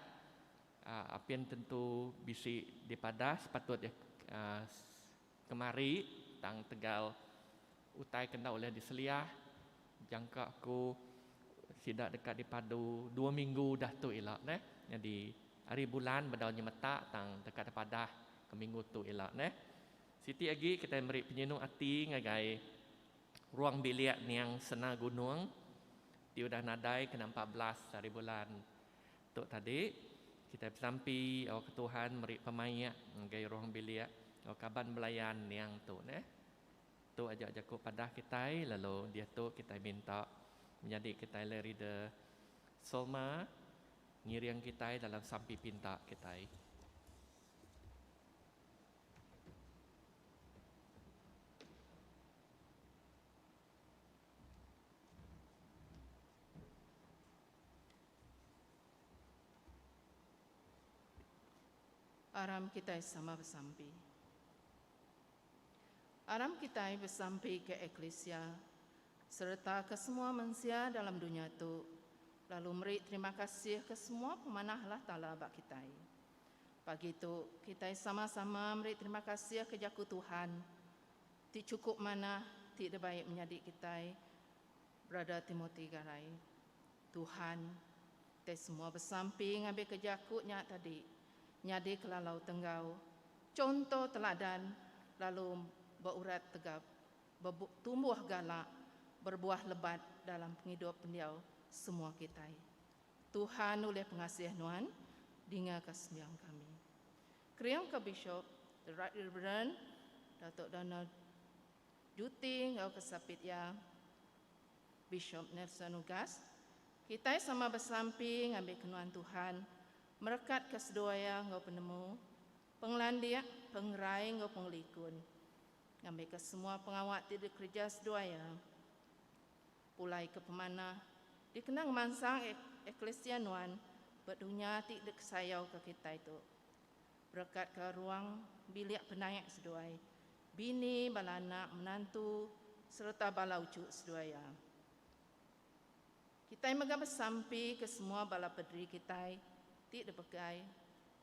aaa apin tentu bisi dipadah sepatut aaa Kemari, tang tegal utai ke enda ulih diseliah jangka ku sida deka dipadu dua minggu udah tu ila neh. Nyadi ari bulan bedau nyemetak tang deka dipadah ke minggu tu ila neh. Siti agi kitai meri penyinu ati ngagai ruang bilik Nyang Sena Gunung ti udah nadai kena empat belas ari bulan. Tu tadi, kitai besampi awakka Tuhan meri pemaik ngagai ruang bilik enggau kaban belayan niang tu neh. Tu aja jaku padah kitai lalu diatu kitai minta menyadi kitai alai reader Solma ngiring kitai dalam sampi pinta kitai. Aram kitai sama besampi. Aram kitai besampi ke eklisia sereta ke semua mensia dalam dunya tu lalu meri terima kasih ke semua pemanah Allah Taala ba kitai. Pagi tu, kitai sama-sama meri terima kasih ke jaku Tuhan ti chukup manah ti dibai menyadi kitai Brother Timothy Garai, Tuhan te semua besampi ngambika jaku nya tadi nyadi kelalau tenggau contoh teladan lalu beurat tegap, betumbuh galak, berbuah lebat dalam pengidup pendiau semua kitai. Tuhan ulih pengasih nuan, dingaka sembiang kami. Kering ke Bishop, The Right Reverend Datuk Donald. Juti enggau kesapit iya, Bishop Nelson Ugas, kitai sama beselampi ngambi kenuan Tuhan merekatka seduai iya enggau penemu, pengelandik, pengerai enggau pengelikun ngambika semua pengawa ti dikereja seduai iya pulai ke pemanah dikena ngemansang eklisia nuan ba dunya ti dikesayauka kitai tu. Berekatka ruang bilik penaik seduai bini, bala anak, menantu sereta bala uchu seduai iya. Kitai mega besampi ke semua bala pederi kitai ti dipegai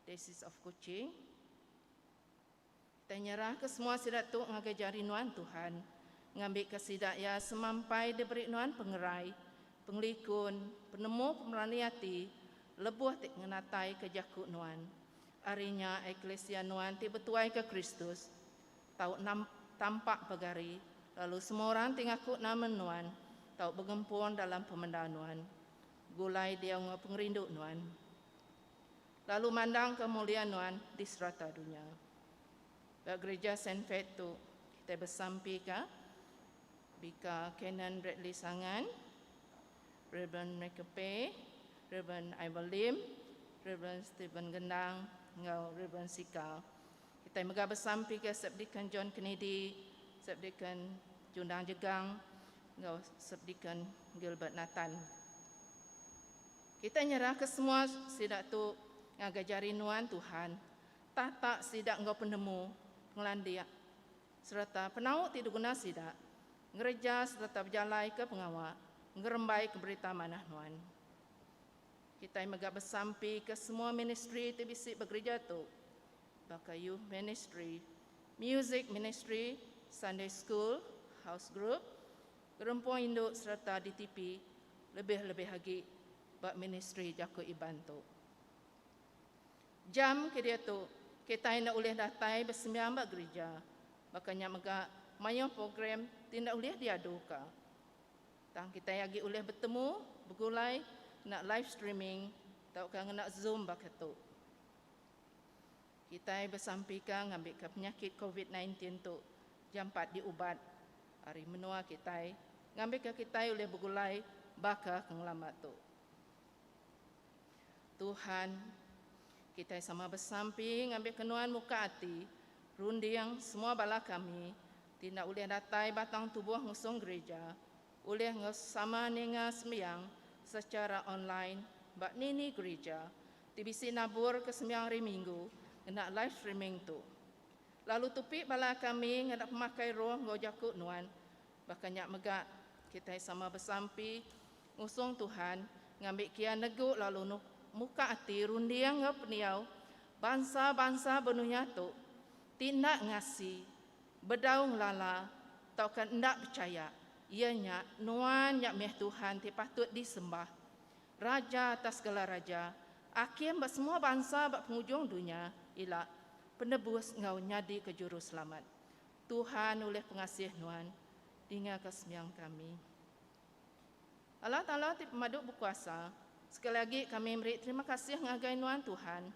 Diocese of Kuching. Kitai nyerahka semua sida tu ngagai jari nuan Tuhan ngambika sida iya semampai diberi nuan pengerai, pengelikun, penemu pemerani ati Lebuh ti ngenataika jaku nuan, ari nya eklisia nuan ti betuaika Kristus tau tampak pegari lalu semua orang ti ngaku nama nuan tau begempung dalam pemendar nuan, gulai diau enggau pengerindu nuan, lalu mandang kemulia nuan di serata dunya. Ba Gerija Saint Faith tu, kitai besampika Bika Canon Bradley Sangan, Rev. Michael Pei, Rev. Ivor Lim, Rev. Stephen Gendang enggau Rev. Sika. Kitai mega besampi ke Subdeacon John Kennedy, Subdeacon Jundang Jegang enggau Subdeacon Gilbert Nathan. Kitai nyerah ke semua sida tu ngagai jari nuan Tuhan, tata sida enggau penemu, pengelandik, sereta penau ti diguna sida ngereja sereta bejalaika pengawa ngerembaika berita manah nuan. Kitai mega besampika semua ministri ti bisi ba gereja tu, baka youth ministri, music ministri, Sunday school, house group, gerempung indu sereta DTP lebih-lebih agi ba ministri jaku Iban tu. Jam ke diatu, kitai enda ulih datai besembiang ba gerija. Baka nya mega, mayuh program ti enda ulih diaduka. Tang kitai agi ulih betemu, begulai, ngena live streaming tauka ngena Zoom baka tu. Kitai besampika ngambika penyakit Covid nineteen tu jampat diubat ari menua kitai ngambika kitai ulih begulai baka ke ngelama tu. Tuhan, kitai sama besampi ngambika Nuan muka ati, runding semua bala kami ti enda ulih datai batang tubuh ngusung gerija, ulih sama ninga sembiang sechara online ba nini gerija ti bisi naburka sembiang hari minggu ngena live streaming tu. Lalu tupi bala kami ngena pemakai roh enggau jaku Nuan, baka nya mega kitai sama besampi Ngusung Tuhan ngambi kian negu lalu muka ati runding enggau pendiau bansa-bansa benunya tu ti enda ngasi, bedau ngelala tauka enda pechaya iya nya nuan nya mih Tuhan ti patut disembah, Raja atas segala raja, Akim ba semua bansa ba pengujung dunya ila Penebus enggau nyadika Juruselamat. Tuhan ulih pengasih nuan, dingaka sembiang kami. Allah Taala ti pemadu bekuasa, sekali agi kami meri terima kasih ngagai nuan Tuhan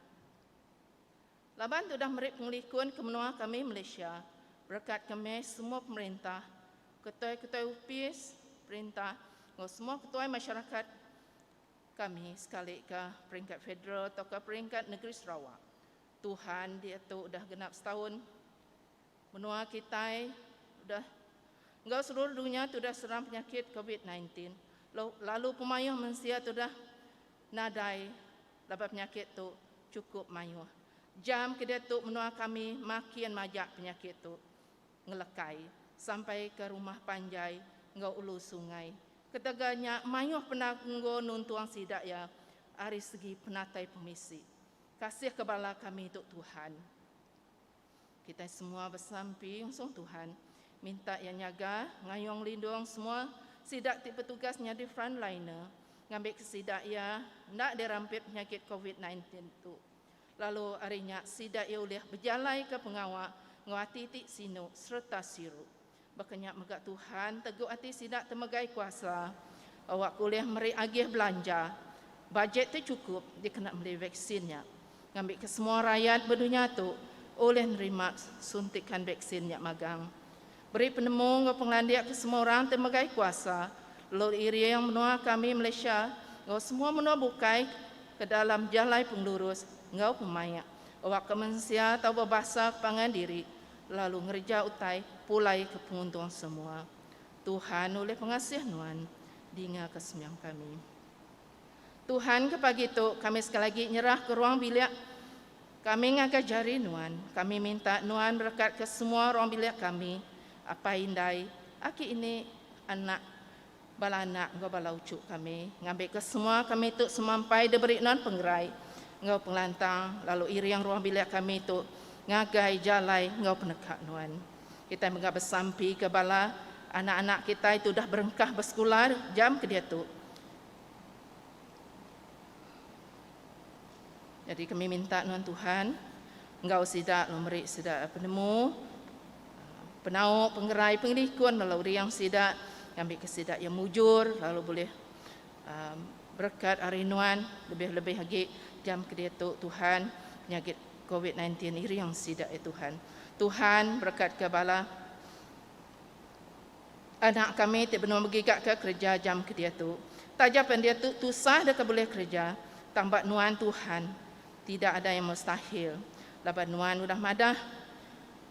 laban tudah meri pengelikun ke menua kami Malaysia berekat kami semua pemerintah, ketuai-ketuai opis perintah enggau semua ketuai masyarakat kami sekalika peringkat federal tauka peringkat negeri Sarawak. Tuhan diatu udah genap setaun. Menua kitai udah enggau seluruh dunya tudah serang penyakit Covid sembilan belas lalu pemayuh mensia tudah nadai laban penyakit tu chukup mayuh jam ke diatu menua kami makin majak penyakit tu ngelekai sampai ke rumah panjai enggau ulu sungai ketegal nya mayuh penanggul nuntung sida iya ari segi penatai pemisi. Kasih ke bala kami tu Tuhan. Kitai semua besampi ngusung Tuhan, minta Iya nyaga, ngayung lindung semua sida ti betugas nyadi frontliner ngambika sida iya enda dirampit penyakit Covid nine tin tu. Lalu ari nya sida iya ulih bejalaika pengawa enggau ati ti sinu sereta siru. Baka nya mega Tuhan teguk ati sida temegai kuasa awakka ulih meri agih belanja. Bajet tu chukup dikena meli vaksin nya ngambika semua rayat ba dunya tu ulih nerima suntikan vaksin nya magang. Beri penemu enggau pengelandik ke semua orang ti megai kuasa lalu iring menua kami Malaysia enggau semua menua bukai ke dalam jalai pengelurus enggau pemaik awakka mensia tau bebasa ke pangan diri lalu ngereja utai pulai ke penguntung semua. Tuhan ulih pengasih nuan dinga ke sembiang kami. Tuhan ke pagi tu kami sekali lagi nyerah ke ruang bilik kami ngagai jari nuan. Kami minta nuan berekat ke semua ruang bilik kami, apai indai, aki ini, anak Bala anak enggau bala uchu kami ngambika semua kami tu semampai diberi nuan pengerai enggau pengelantang lalu iring ruang bilik kami tu ngagai jalai enggau peneka nuan. Kitai mega besampika bala anak-anak kitai ti udah berengkah besekula jam ke diatu. Jadi kami minta nuan Tuhan enggau sida lalu meri sida penemu penau pengerai pengelikun bala uring sida ngambi ke sida yang mujur lalu boleh um, berkat hari nuan lebih-lebih lagi jam ke diatu Tuhan penyakit COVID-19 iring sida ya Tuhan. Tuhan berkat ke bala Anak kami ti benung begiga ke kereja jam ke diatu. Taja pen diatu tusah deka bulih kereja, tang ba nuan Tuhan tidak ada yang mustahil. Laban nuan udah madah,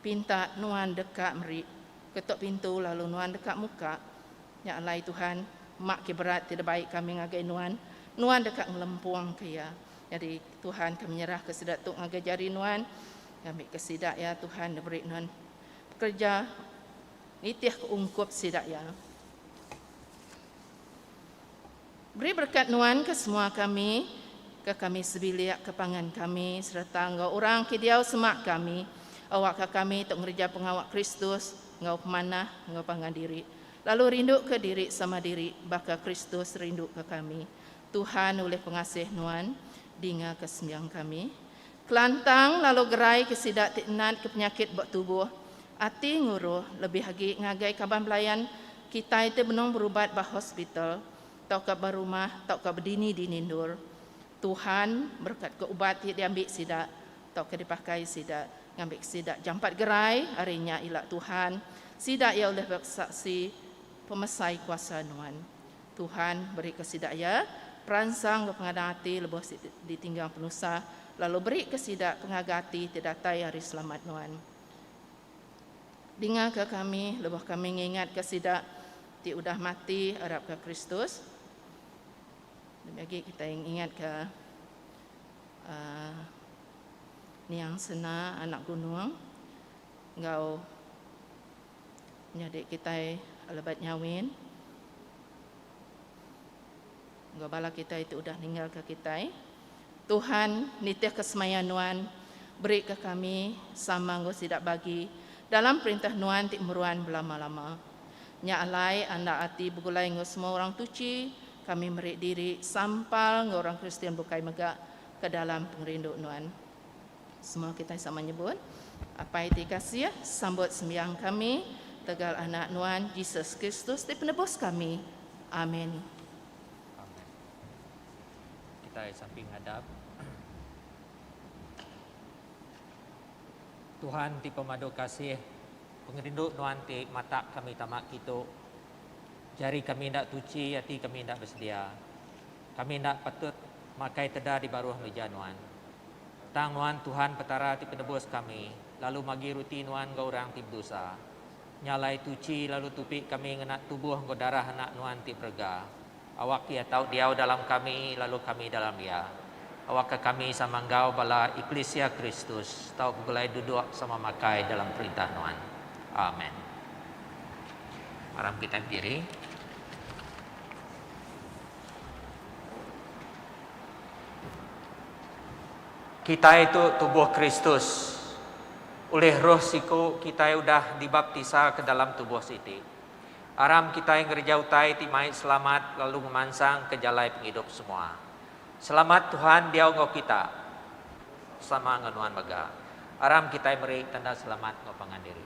pinta nuan deka meri, ketok pintu lalu nuan deka muka. Nya alai Tuhan, mak ke berat ti debai kami ngagai nuan, nuan deka ngelempung ke iya. Nyadi Tuhan ke menyerah ke sida tu ngagai jari nuan, ngambi ke sida ya Tuhan diberi nuan pekereja. Nitihka ungkup sida iya. Beri berkat Nuan ke semua kami, ke kami sebilik, ke pangan kami sereta enggau orang ke diau semak kami. Awakka kami tu ngereja pengawa Kristus enggau pemanah enggau pangan diri, lalu rinduka diri sama diri baka Kristus rinduka kami. Tuhan ulih pengasih Nuan, dingaka sembiang kami. Kelantang lalu gerai ke sida ti nat ke penyakit ba tubuh ati nguruh lebih agi ngagai kaban belayan kitai ti benung berubat ba hospital tauka ba rumah tauka bedini-dini endur. Tuhan berekatka ubat ti diambi sida tauka dipakai sida ngambika sida jampat gerai ari nya ila Tuhan sida iya ulih besaksi pemesai kuasa Nuan. Tuhan berika sida iya peransang enggau pengadang ati lebuh siti ditinggang penusah, lalu berika sida pengaga ati ti datai ari selamat nuan. Dingaka kami lebuh kami ngingatka sida ti udah mati arapka Kristus. Demi agi kitai ngingatka um Niang Sena anak Gunung enggau. Nyadi kitai lebat nyawin enggau bala kitai ti udah ninggalka kitai. Tuhan nitihka semaya nuan, berika kami sama enggau sida bagi dalam perintah nuan ti meruan belama-lama. Nya alai anda ati begulai enggau semua orang tuchi, kami meri diri sampal enggau orang Kristian bukai mega ke dalam pengerindu nuan. Semua kitai sama nyebut, Apai ti kasih, sambut sembiang kami tegal Anak Nuan, Jesus Kristus ti Penebus kami. Amin. Amen. Kitai sapi ngadap. Tuhan ti pemadu kasih, pengerindu Nuan ti matak kami tama kitu. Jari kami enda tuchi, ati kami enda besedia. Kami enda patut makai teda di baruh meja Nuan. Tang Nuan Tuhan Petara ti Penebus kami, lalu magi ruti Nuan enggau orang ti bedosa. Nya alai tuchi lalu tupi kami ngena tubuh enggau darah Anak Nuan ti berega. Awak Iya tau diau dalam kami, lalu kami dalam Iya. Awakka kami sama enggau bala eklisia Kristus tau begulai duduk sama makai dalam perintah Nuan. Amen. Mara kitai bediri. Kitai tu tubuh Kristus. Ulih Roh siku kitai udah dibaptisa ke dalam tubuh siti. Aram kitai ngereja utai ti mai selamat lalu ngemansang ke jalai pengidup semua. Selamat Tuhan diau enggau kita. Sama enggau nuan mega. Aram kitai meri tanda selamat enggau pangan diri.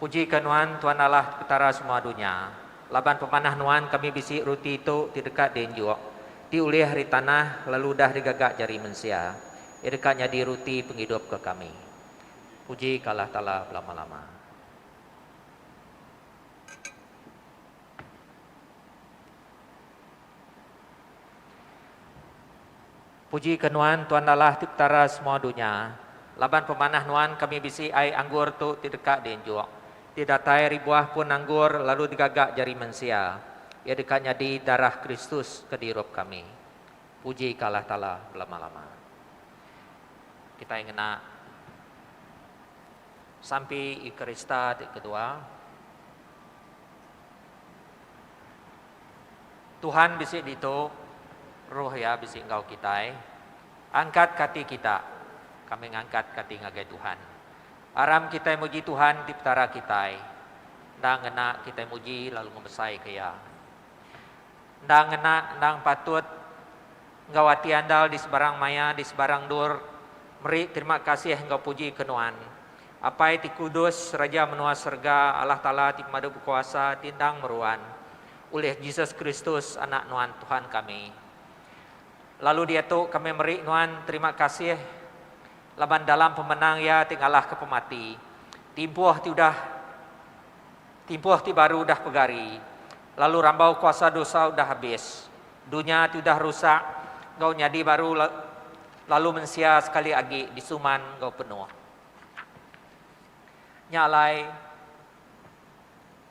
Puji ka Nuan, Tuan Allah Petara semua dunya. Laban pemanah Nuan kami bisi ruti tu ti deka dienjuk, ti ulih ari tanah lalu udah digaga jari mensia, iya deka nyadi ruti pengidup ke kami. Puji ka Allah Taala belama-lama. Puji ke nuan Tuan Allah ti petara semua dunya, laban pemanah nuan kami bisi ai anggur tu ti deka dienjuk, ti datai ari buah pun anggur lalu digaga jari mensia, iya deka nyadi darah Kristus ke dirup kami. Puji ke Allah Taala belama-lama. Kitai ngena Sampi Eukarista ti kedua. Tuhan bisi ditu, Roh Iya bisi enggau kitai. Angkat ka ati kita, kami ngangkat ka ati ngagai Tuhan. Aram kitai muji Tuhan ti Petara kitai. Endang ngena kitai muji lalu ngemesai ka Iya. Endang ngena, endang patut enggau ati andal di sebarang maya, di sebarang endur, meri terima kasih enggau puji ke nuan. Apai ti kudus, Raja menua serega, Allah Taala ti pemadu bekuasa, ti endang meruan, ulih Jesus Kristus, Anak Nuan Tuhan kami. Lalu diatu kami meri Nuan terima kasih laban dalam pemenang Iya ti ngalahka pemati, timpuh ti udah timpuh ti baru udah pegari, lalu rambau kuasa dosa udah habis, dunya ti udah rusak enggau nyadi baru lalu mensia sekali agi disuman enggau penuh. Nya alai,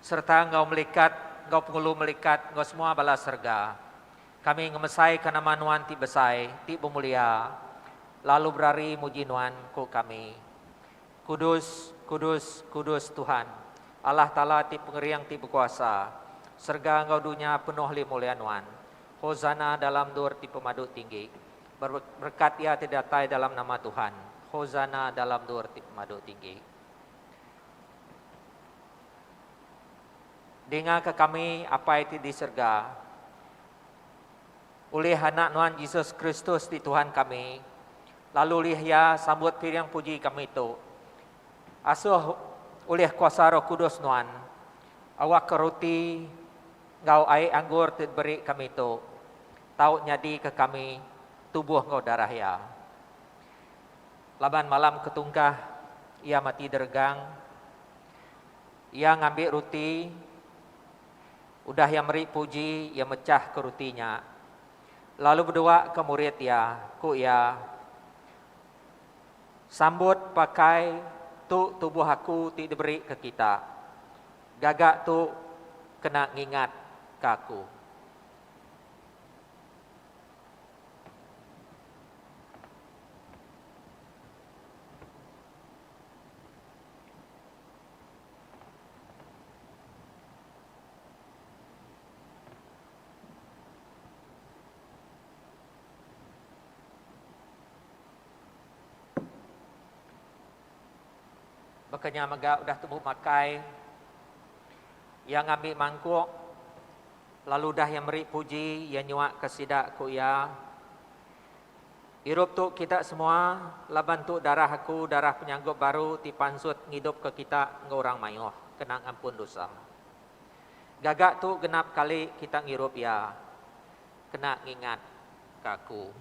sereta enggau melikat, enggau pengulu melikat, enggau semua bala serega, kami ngemesaika nama Nuan ti besai, ti bemulia, lalu berari muji Nuan, ku kami. Kudus, kudus, kudus Tuhan, Allah Taala ti Pengering ti Bekuasa, serega enggau dunya penuh lih mulia Nuan. Hosana dalam endur ti pemadu tinggi. Berkat iya ti datai dalam nama Tuhan. Hosana dalam dua reti pemadu tinggi. Dingaka kami, Apai ti di serega. Ulih Anak Nuan Jesus Kristus ti Tuhan kami, lalu ulih iya sambut piring puji kami tu. Asuh ulih kuasa Roh Kudus Nuan, awakka roti enggau ai anggur ti diberi kami tu tau nyadika kami tubuh enggau darah Iya. Laban malam ketungkah Iya mati deregang, Iya ngambi ruti, udah Iya meri puji, Iya mechahka ruti nya, lalu beduaka murid Iya, ku Iya, Sambut pakai, tu tubuh Aku ti diberika kita. Gaga tu kena ngingatka Aku. Baka nya mega udah tembu makai, iya ngambi mangkuk. Lalu udah iya meri puji, iya nyuakka sida, ku iya, Irup tu kita semua, laban tu darah aku, darah penyanggup baru ti pansut ngidupka kita enggau orang mayuh kena ngampun dosa. Gaga tu genap kali kita ngirup iya, kena ngingatka aku.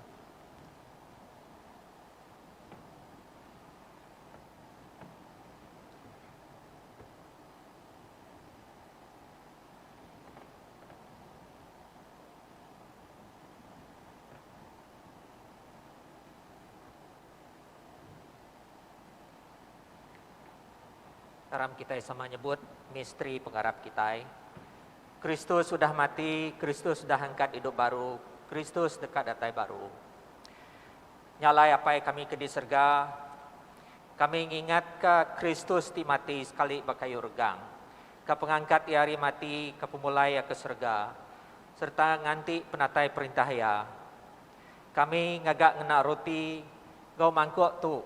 Taram kitai sama nyebut misteri pengarap kitai. Kristus udah mati, Kristus udah angkat idup baru, Kristus deka datai baru. Nya alai Apai kami ke di serega, kami ngingatka Kristus ti mati sekali ba kayu regang. Ka pengangkat iya ari mati, ka pemulai iya ke serega, sereta nganti penatai perintah iya. Kami ngaga ngena roti enggau mangkuk tu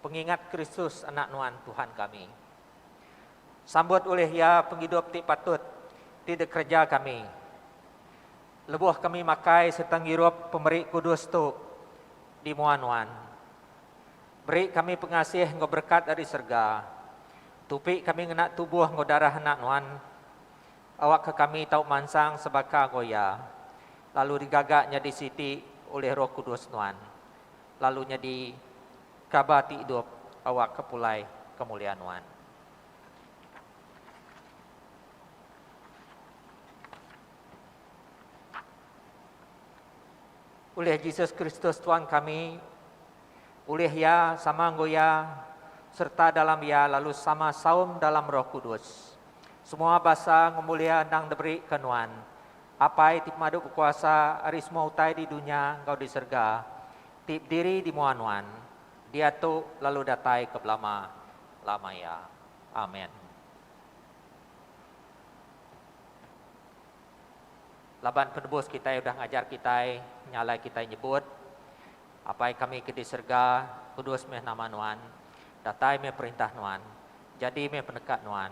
pengingat Kristus Anak Nuan Tuhan kami. Sambut ulih iya pengidup ti patut ti dikereja kami. Lebuh kami makai sereta ngirup pemeri kudus tu di mua nuan, beri kami pengasih enggau berekat ari serega, Tupi kami ngena tubuh enggau darah Anak Nuan. Awakka kami tau mansang sebaka enggau Iya, lalu digaga nyadi siti ulih Roh Kudus Nuan, lalu nyadi kaba ti idup awakka pulai kemuliaan Nuan. Ulih Jesus Kristus Tuan kami. ulih iya, sama enggau iya, sereta dalam iya lalu sama saum dalam Roh Kudus. Semua basa enggau mulia endang diberika nuan, Apai ti pemadu bekuasa ari semua utai di dunya enggau di serega, ti bediri di mua nuan, diatu lalu datai ke belama lama iya. Amen. Laban Penebus kitai udah ngajar kitai, nyalai kitai nyebut, Apai kami ke di serega, kudus meh nama Nuan, datai meh perintah Nuan, jadi meh peneka Nuan,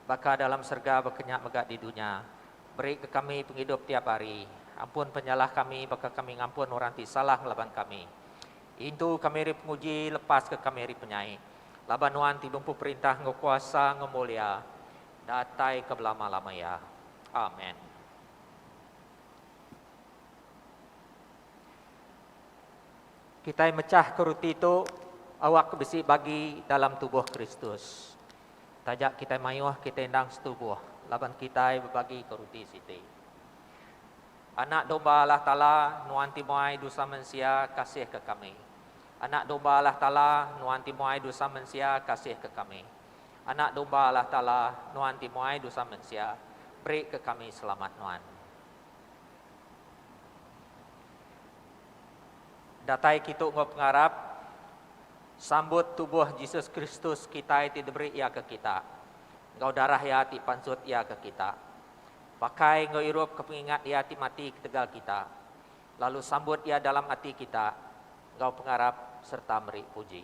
baka dalam serega baka nya mega di dunya. Berika kami pengidup tiap hari. Ampun penyalah kami baka kami ngampun orang ti salah ngelaban kami. Intu kami ari penguji, lepaska kami ari penyai. Laban Nuan ti bempu perintah enggau kuasa enggau mulia. Datai ke belama lama iya. Amen. Kitai mechah ke ruti tu awak bisi bagi dalam tubuh Kristus. Taja kitai mayuh kitai endang setubuh laban kitai bebagi ke ruti siti. Anak Domba Allah Taala nuan ti muai dosa mensia kasih ke kami. Anak Domba Allah Taala nuan ti muai dosa mensia kasih ke kami. Anak Domba Allah Taala nuan ti muai dosa mensia, beri ke kami selamat nuan. Datai kitu enggau pengarap sambut tubuh Jesus Kristus kitai ti diberi iya ke kita, enggau darah iya ti pansut iya ke kita. Pakai enggau irup ke pengingat iya ti mati ketegal kita, lalu sambut iya dalam ati kita enggau pengarap serta meri puji.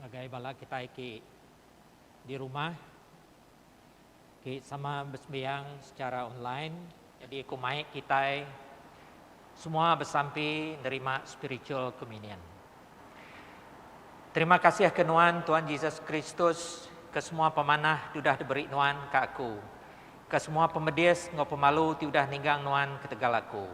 Ngagai bala kitai ti di rumah, ti sama besembiang secara online. Nyadi ku mai kitai semua besampi nerima spiritual communion. Terima kasih ke nuan Tuan Jesus Kristus ke semua pemanah ti udah diberi nuan ke aku, ke semua pemedis enggau pemalu ti udah ninggang nuan ketegal aku.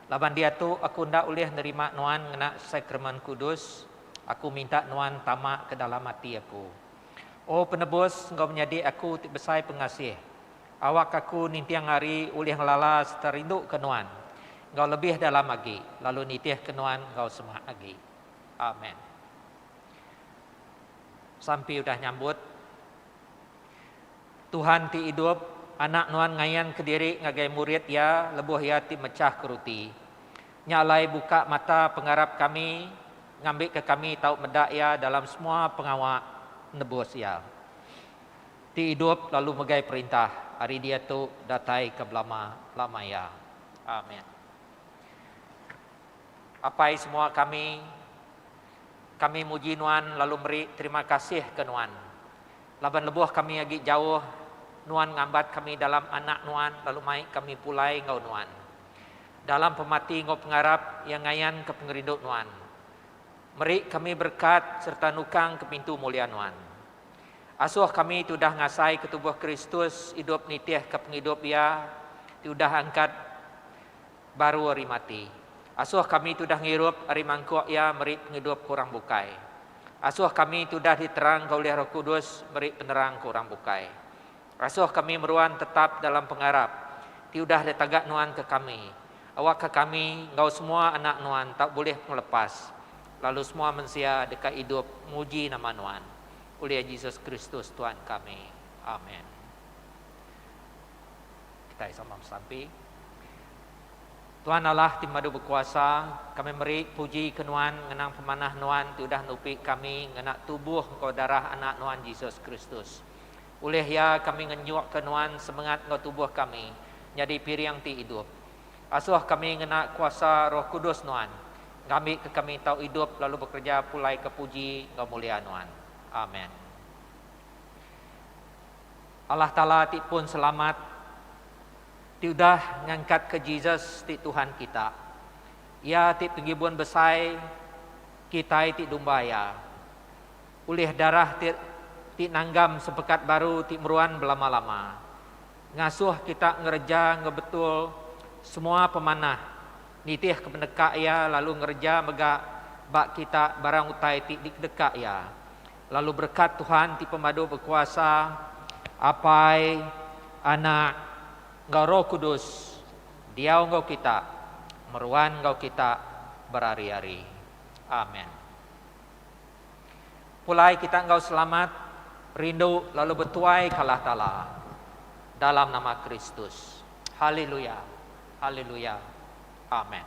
Laban diatu aku enda ulih nerima nuan ngena Sakramen Kudus, aku minta nuan tama ke dalam ati aku. O Penebus enggau Menyadi aku ti besai pengasih, Awak aku ninting hari ulih ngelala sereta rinduka Nuan enggau lebih dalam agi, lalu nitihka Nuan enggau semak agi. Amen. Sampi udah nyambut. Tuhan ti idup, Anak Nuan ngayanka diri ngagai murid Iya lebuh Iya ti mechahka ruti. Nya alai buka mata pengarap kami ngambika kami tau meda Iya dalam semua pengawa nebus Iya. Ti idup lalu megai perintah ari diatu datai ke belama lama iya. Amen. Apai semua kami, kami muji Nuan lalu meri terima kasih ke Nuan. Laban lebuh kami agi jauh, Nuan ngambat kami dalam Anak Nuan lalu mai kami pulai enggau Nuan. Dalam pemati enggau pengarap iya ngayanka pengerindu Nuan. Meri kami berekat sereta nukangka pintu mulia Nuan. Asuh kami ti udah ngasaika tubuh Kristus idup nitihka pengidup Iya ti udah angkat baru ari mati. Asuh kami ti udah ngirup ari mangkuk Iya meri pengidup ke orang bukai. Asuh kami ti udah diterangka ulih Roh Kudus meri penerang ke orang bukai. Asoh kami meruan tetap dalam pengarap ti udah de taga nuan ke kami. Awak ka kami enggau semua anak nuan tau bulih pengelepas, lalu semua mensia deka idup muji nama nuan. Ulih Jesus Kristus Tuan kami. Amen. Kitai sama besampi. Tuan Allah ti madu bekuasa, kami meri puji ke nuan ngenang pemanah nuan ti udah nupi kami ngena tubuh enggau darah anak nuan Jesus Kristus. Ulih iya kami ngenjukka nuan semengat enggau tubuh kami nyadi piring ti idup. Asuh kami ngena kuasa Roh Kudus nuan, ngambika kami tau idup lalu bekereja pulaika puji enggau mulia nuan. Amen. Allah Taala ti pun selamat, ti udah ngangkatka Jesus ti Tuhan kita. Iya ti Penggibun Besai kitai ti dumba Iya. Ulih darah ti ti nanggam sepekat baru ti meruan belama-lama ngasuh kita ngereja enggau betul semua pemanah nitihka peneka iya lalu ngereja mega ba kita barang utai ti dikedeka iya. Lalu berekat Tuhan ti Pemadu Bekuasa, Apai, Anak, enggau Roh Kudus diau enggau kita, meruan enggau kita berari-ari. Amen. Pulai kita enggau selamat, rindu lalu betuai ka Allah Taala dalam nama Kristus. Haleluya. Haleluya. Amen.